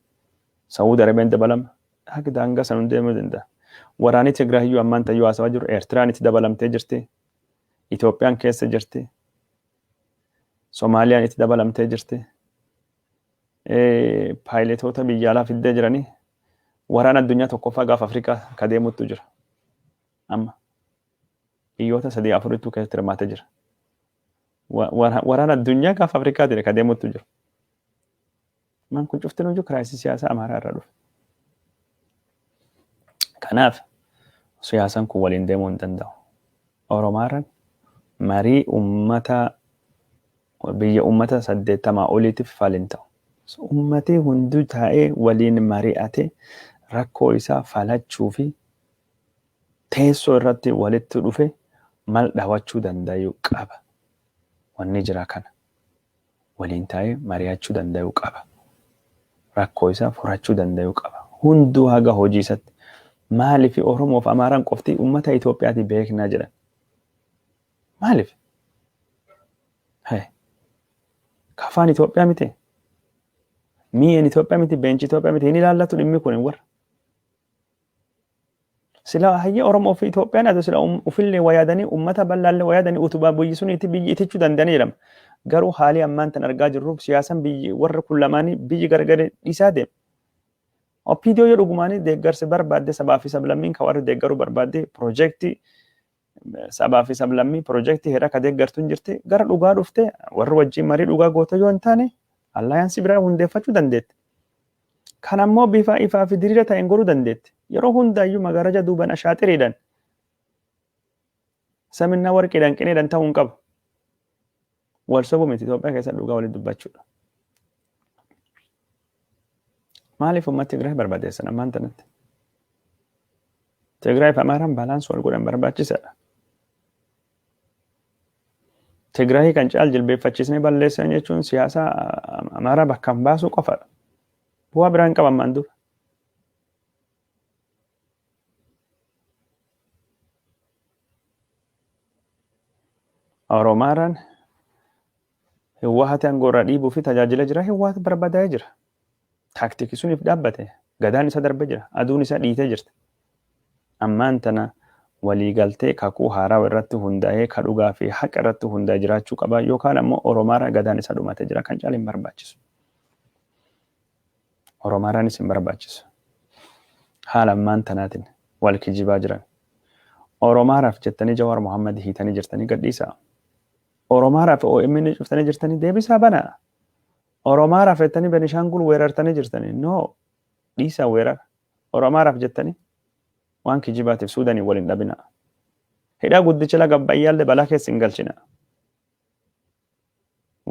Sawuud Arabiyaan dabalama. Haga daangaa sanuun deemuu danda'a. Waraanii Tigraayyuu ammaan tayyuu haasawaa jiru. Eertiraan itti dabalamtee jirti. Itoophiyaan keessa jirti. Somaaliyaan itti dabalamtee jirti. Paayiletoota biyya alaa fiddee jiranii waraana addunyaa tokkoffaa gaafa Afrikaa ka deemuttu jira. Amma. biyyoota sadii afur ittuu keessatti hirmaatee jira. Waraana addunyaa gaafa Afrikaa ta'e ka deemuttu jiru. Man kun cuftin hojii kiraayisii siyaasaa Amaaraa irraa dhufe. Kanaaf siyaasaan kun waliin deemuu hin danda'u. Oromaarran marii uummata biyya uummata saddeettamaa oliitiif falin ta'u. Uummatee hunduu taa'ee waliin mari'atee rakkoo isaa falachuu fi teesso irratti walitti dhufe mal dhawachu dandayu qaba wanni jira kana waliin tae mariachu dandayu qaba rakko isa furachu dandayu qaba hundu haga hoji isatti malifi oromof amaran qofti ummata itophiyati beekna jedhan malifi haye kafaan itophiya miti miyen itophiya miti benchi itophiya miti hin ilallatu dhimmi kun warra Sila hayya Oromoo fi Itoophiyaan haa ta'u sila um- ufillee waa yaadanii uummata bal'aallee waa yaadanii utubaa biyyi sun itti biyyi itichuu danda'aniiram. Garuu haalii ammaan tan argaa jirruuf siyaasan biyyi warra kun lamaanii biyyi gargari dhiisaa deema. OPDO yoo dhugumaanii deeggarsa barbaadde sabaa fi sablammiin ka warri deeggaruu barbaadde piroojeektii sabaa fi sablammii pirojektii heeraa ka deeggartu hin jirti gara dhugaa dhufte warri wajjin marii dhugaa goota yoo hin taane allaayansii biraa hundeeffachuu dandeetti. Kan ammoo bifa ifaa fi diriira ta'een godhuu dandeetti. Yeroo hundaayyuu magaaraja duuban ashaaxiriidhaan saminnaa warqiidhaan qineedhaan ta'uu hin qabu. Wal sobu miti Itoophiyaa keessa dhugaa walitti dubbachuudha. Maaliif uummata Tigraay barbadeessan ammaan tanatti? Tigraay fi Amaaraan baalaansi wal godhan barbaachisaadha. Tigraay kan caal jilbeeffachiisnee balleessan jechuun siyaasa Amaaraa bakkaan baasuu qofadha. Bu'aa biraan qaba ammaan dura. Oromaaraan Hiwwaahati aangoo irraa dhiibuu fi tajaajila jira. Hiwwaahati barbadaa'ee jira. Taaktikii suniif dhaabbate. Gadaan isa darbee jira. Aduun isa dhiitee jirti. Ammaan tana waliigaltee kakuu haaraa irratti hundaa'ee ka dhugaa fi haqa irratti hundaa'e jiraachuu qaba yookaan ammoo Oromaaraan gadaan isa dhumatee jira kan caalee hin barbaachisu. Oromaaraanis hin barbaachisu. Haala ammaan tanaatin wal kijibaa jiran. Oromaaraaf jettanii Jawaar Mohammed hiitanii jirtanii gadhiisaa. Oromaaraaf omn cuftanii jirtanii deebisaa banaa. Oromaaraaf jettanii Benishaangul weerartanii jirtanii no dhiisaa weerara. Oromaaraaf jettanii waan kijibaatiif Suudaniin wal hin dhabinaa. Hidhaa guddicha laga Abbayyaallee balaa keessa hin galchinaa.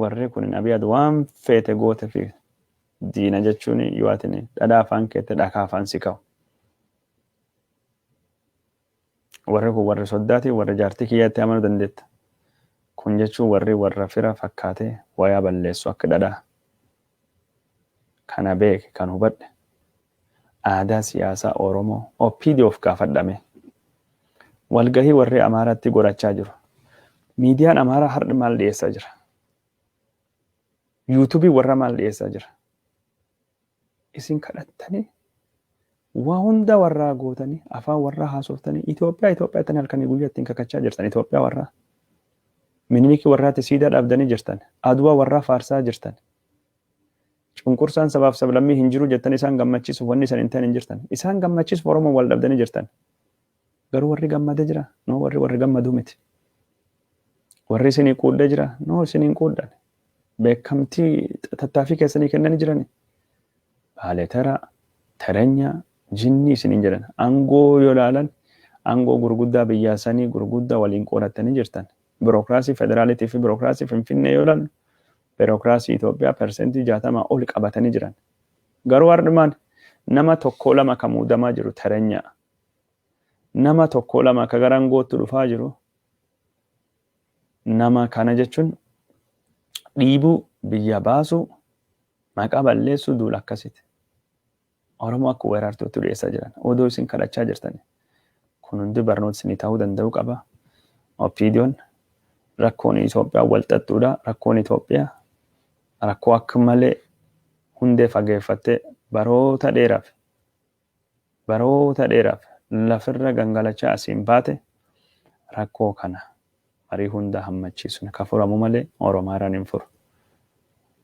Warri kunin Abiyaad waan feete gootefi diina jechuun yoo atini dhadhaa afaan keette dhakaa afaan si ka'u. Warri kun warri soddaati warri jaartii kiyyaatti amanuu dandeetta. Kun jechuun warri warra fira fakkaatee wayaa balleessu akka dhadhaa. Kana beeke kan hubadhe aadaa siyaasaa Oromoo OPDOf gaafadha mee. Walgahii warrii Amaaraattii godhachaa jiru miidiyaan Amaaraa hardhi maal dhiyeessaa jira? Yuutubiin warra maal dhiyeessaa jira? Isin kadhattanii Waa hundaa warraa gootani afaan warraa haasoftani Itoophiyaa Itoophiyaa jettani halkanii guyyaa ittiin kakachaa jirtan Itoophiyaa warraa Minilikii warraatti siidaa dhaabdanii jirtan Adwaa warraa faarsaa jirtan cunqursaan sabaaf sablammii hin jiruu jettani isaan gammachiisuuf wanni isan hin ta'in hin jirtan isaan gammachiisuuf Oromoon wal dhabdanii jirtan Garuu warri gammade jira? No, warri warri gammadu miti. Warri isinii quudhe jira? No, isinii hin quudhan. Beekamtii tattaaffii keessanii kennanii jirani? Baaleetara, terenya, jinnii isiniin jedhan. Aangoo yoo ilaalan aangoo gurguddaa biyyaa sanii gurguddaa waliin qoodattanii jirtan. Birookiraasii federaaliitii fi birookiraasii Finfinnee yoo ilaallu birookiraasii Itoophiyaa persentii jaatamaa oli qabatanii jiran. Garuu hardhumaan nama tokkoo lama kan muudamaa jiru terenyaa. nama tokko lama ka gara angoottu dhufaa jiru nama kana jechuun dhiibuu biyya baasuu maqaa balleessuu duula akkasiiti. Oromoo akka weerartuutti dhiyeessaa jiran odoo isin kadhachaa jirtani. Kun hundi barnoota isinii ta'uu danda'uu qaba. Opiidiyoon rakkoon Itoophiyaa walxaxxuudha. Rakkoon Itoophiyaa rakkoo akka malee hundee fageeffattee baroota dheeraaf baroota dheeraaf lafirra gangalachaa asiin baate rakkoo kana marii hunda hammachiisun ka furamu malee Oromaaraan hin furu.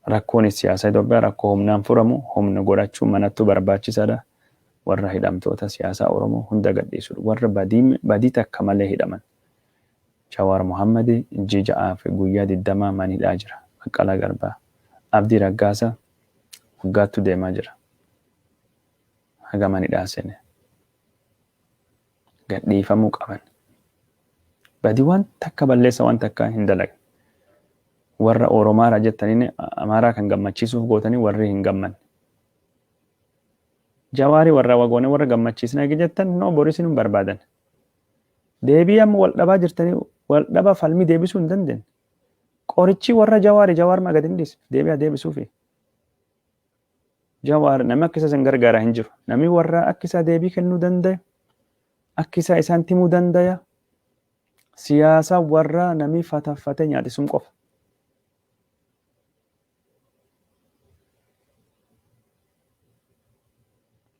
Rakkooni siyaasa Itoophiyaa rakkoo humnaan furamu humna godhachuun manattuu barbaachisaadha. Warra hidhamtoota siyaasaa Oromoo hunda gadhiisudha. Warra badii takka malee hidhaman. Jawaar Mohammad ji ja'aa fi guyyaa 20 man hidhaa jira. Baqqalaa Garbaa. Abdii Raggaasa waggaattu deemaa jira. haga mana hidhaa sene gadhiifamuu qaban badi waan takka balleessa waan takka hin dalagne warra oromaara jettaniin amaaraa kan gammachiisuuf gootanii warri hin gammanne jawaarii warra wagoone warra gammachiisna eegi jettan noo borisiin hin barbaadan deebii amma wal dhabaa jirtanii wal dhaba falmii deebisuu hin dandeenye qorichi warra jawaari jawaar magadin dhiise deebi'a deebisuufi. Jawaar nami akka isa isin gargaara hin jiru. Nami warraa akka isaa deebii kennuu dandaya, akka isaa isaan timuu dandaya, siyaasa warraa nami fataffatee nyaate sun qofa.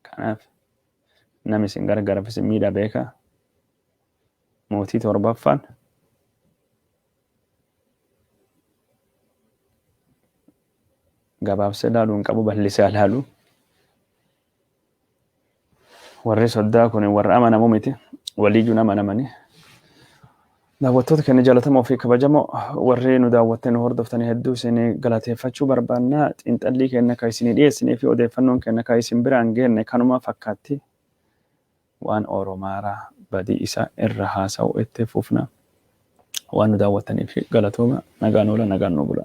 Kanaaf nami isin gargaaraf isin miidha beeka. Mootii torbaffaan gabaabsee ilaaluu hin qabu bal'isee ilaalu warri soddaa kun warra amanamu miti waliiyyuu nama namani daawwattoota keenya jaalatamoo fi kabajamoo warri nu daawwattee nu hordoftanii hedduu isin galateeffachuu barbaannaa xiinxallii keenya kan isin dhiyeessinee fi odeeffannoon keenya kan isin biraan geenne kanuma fakkaatti Waan Oro Mara Badi Isa Irra Hasawu Itti Fufna Waan Nu Dawataniif Galatooma Nagaan Oola Nagaan Nu Bula.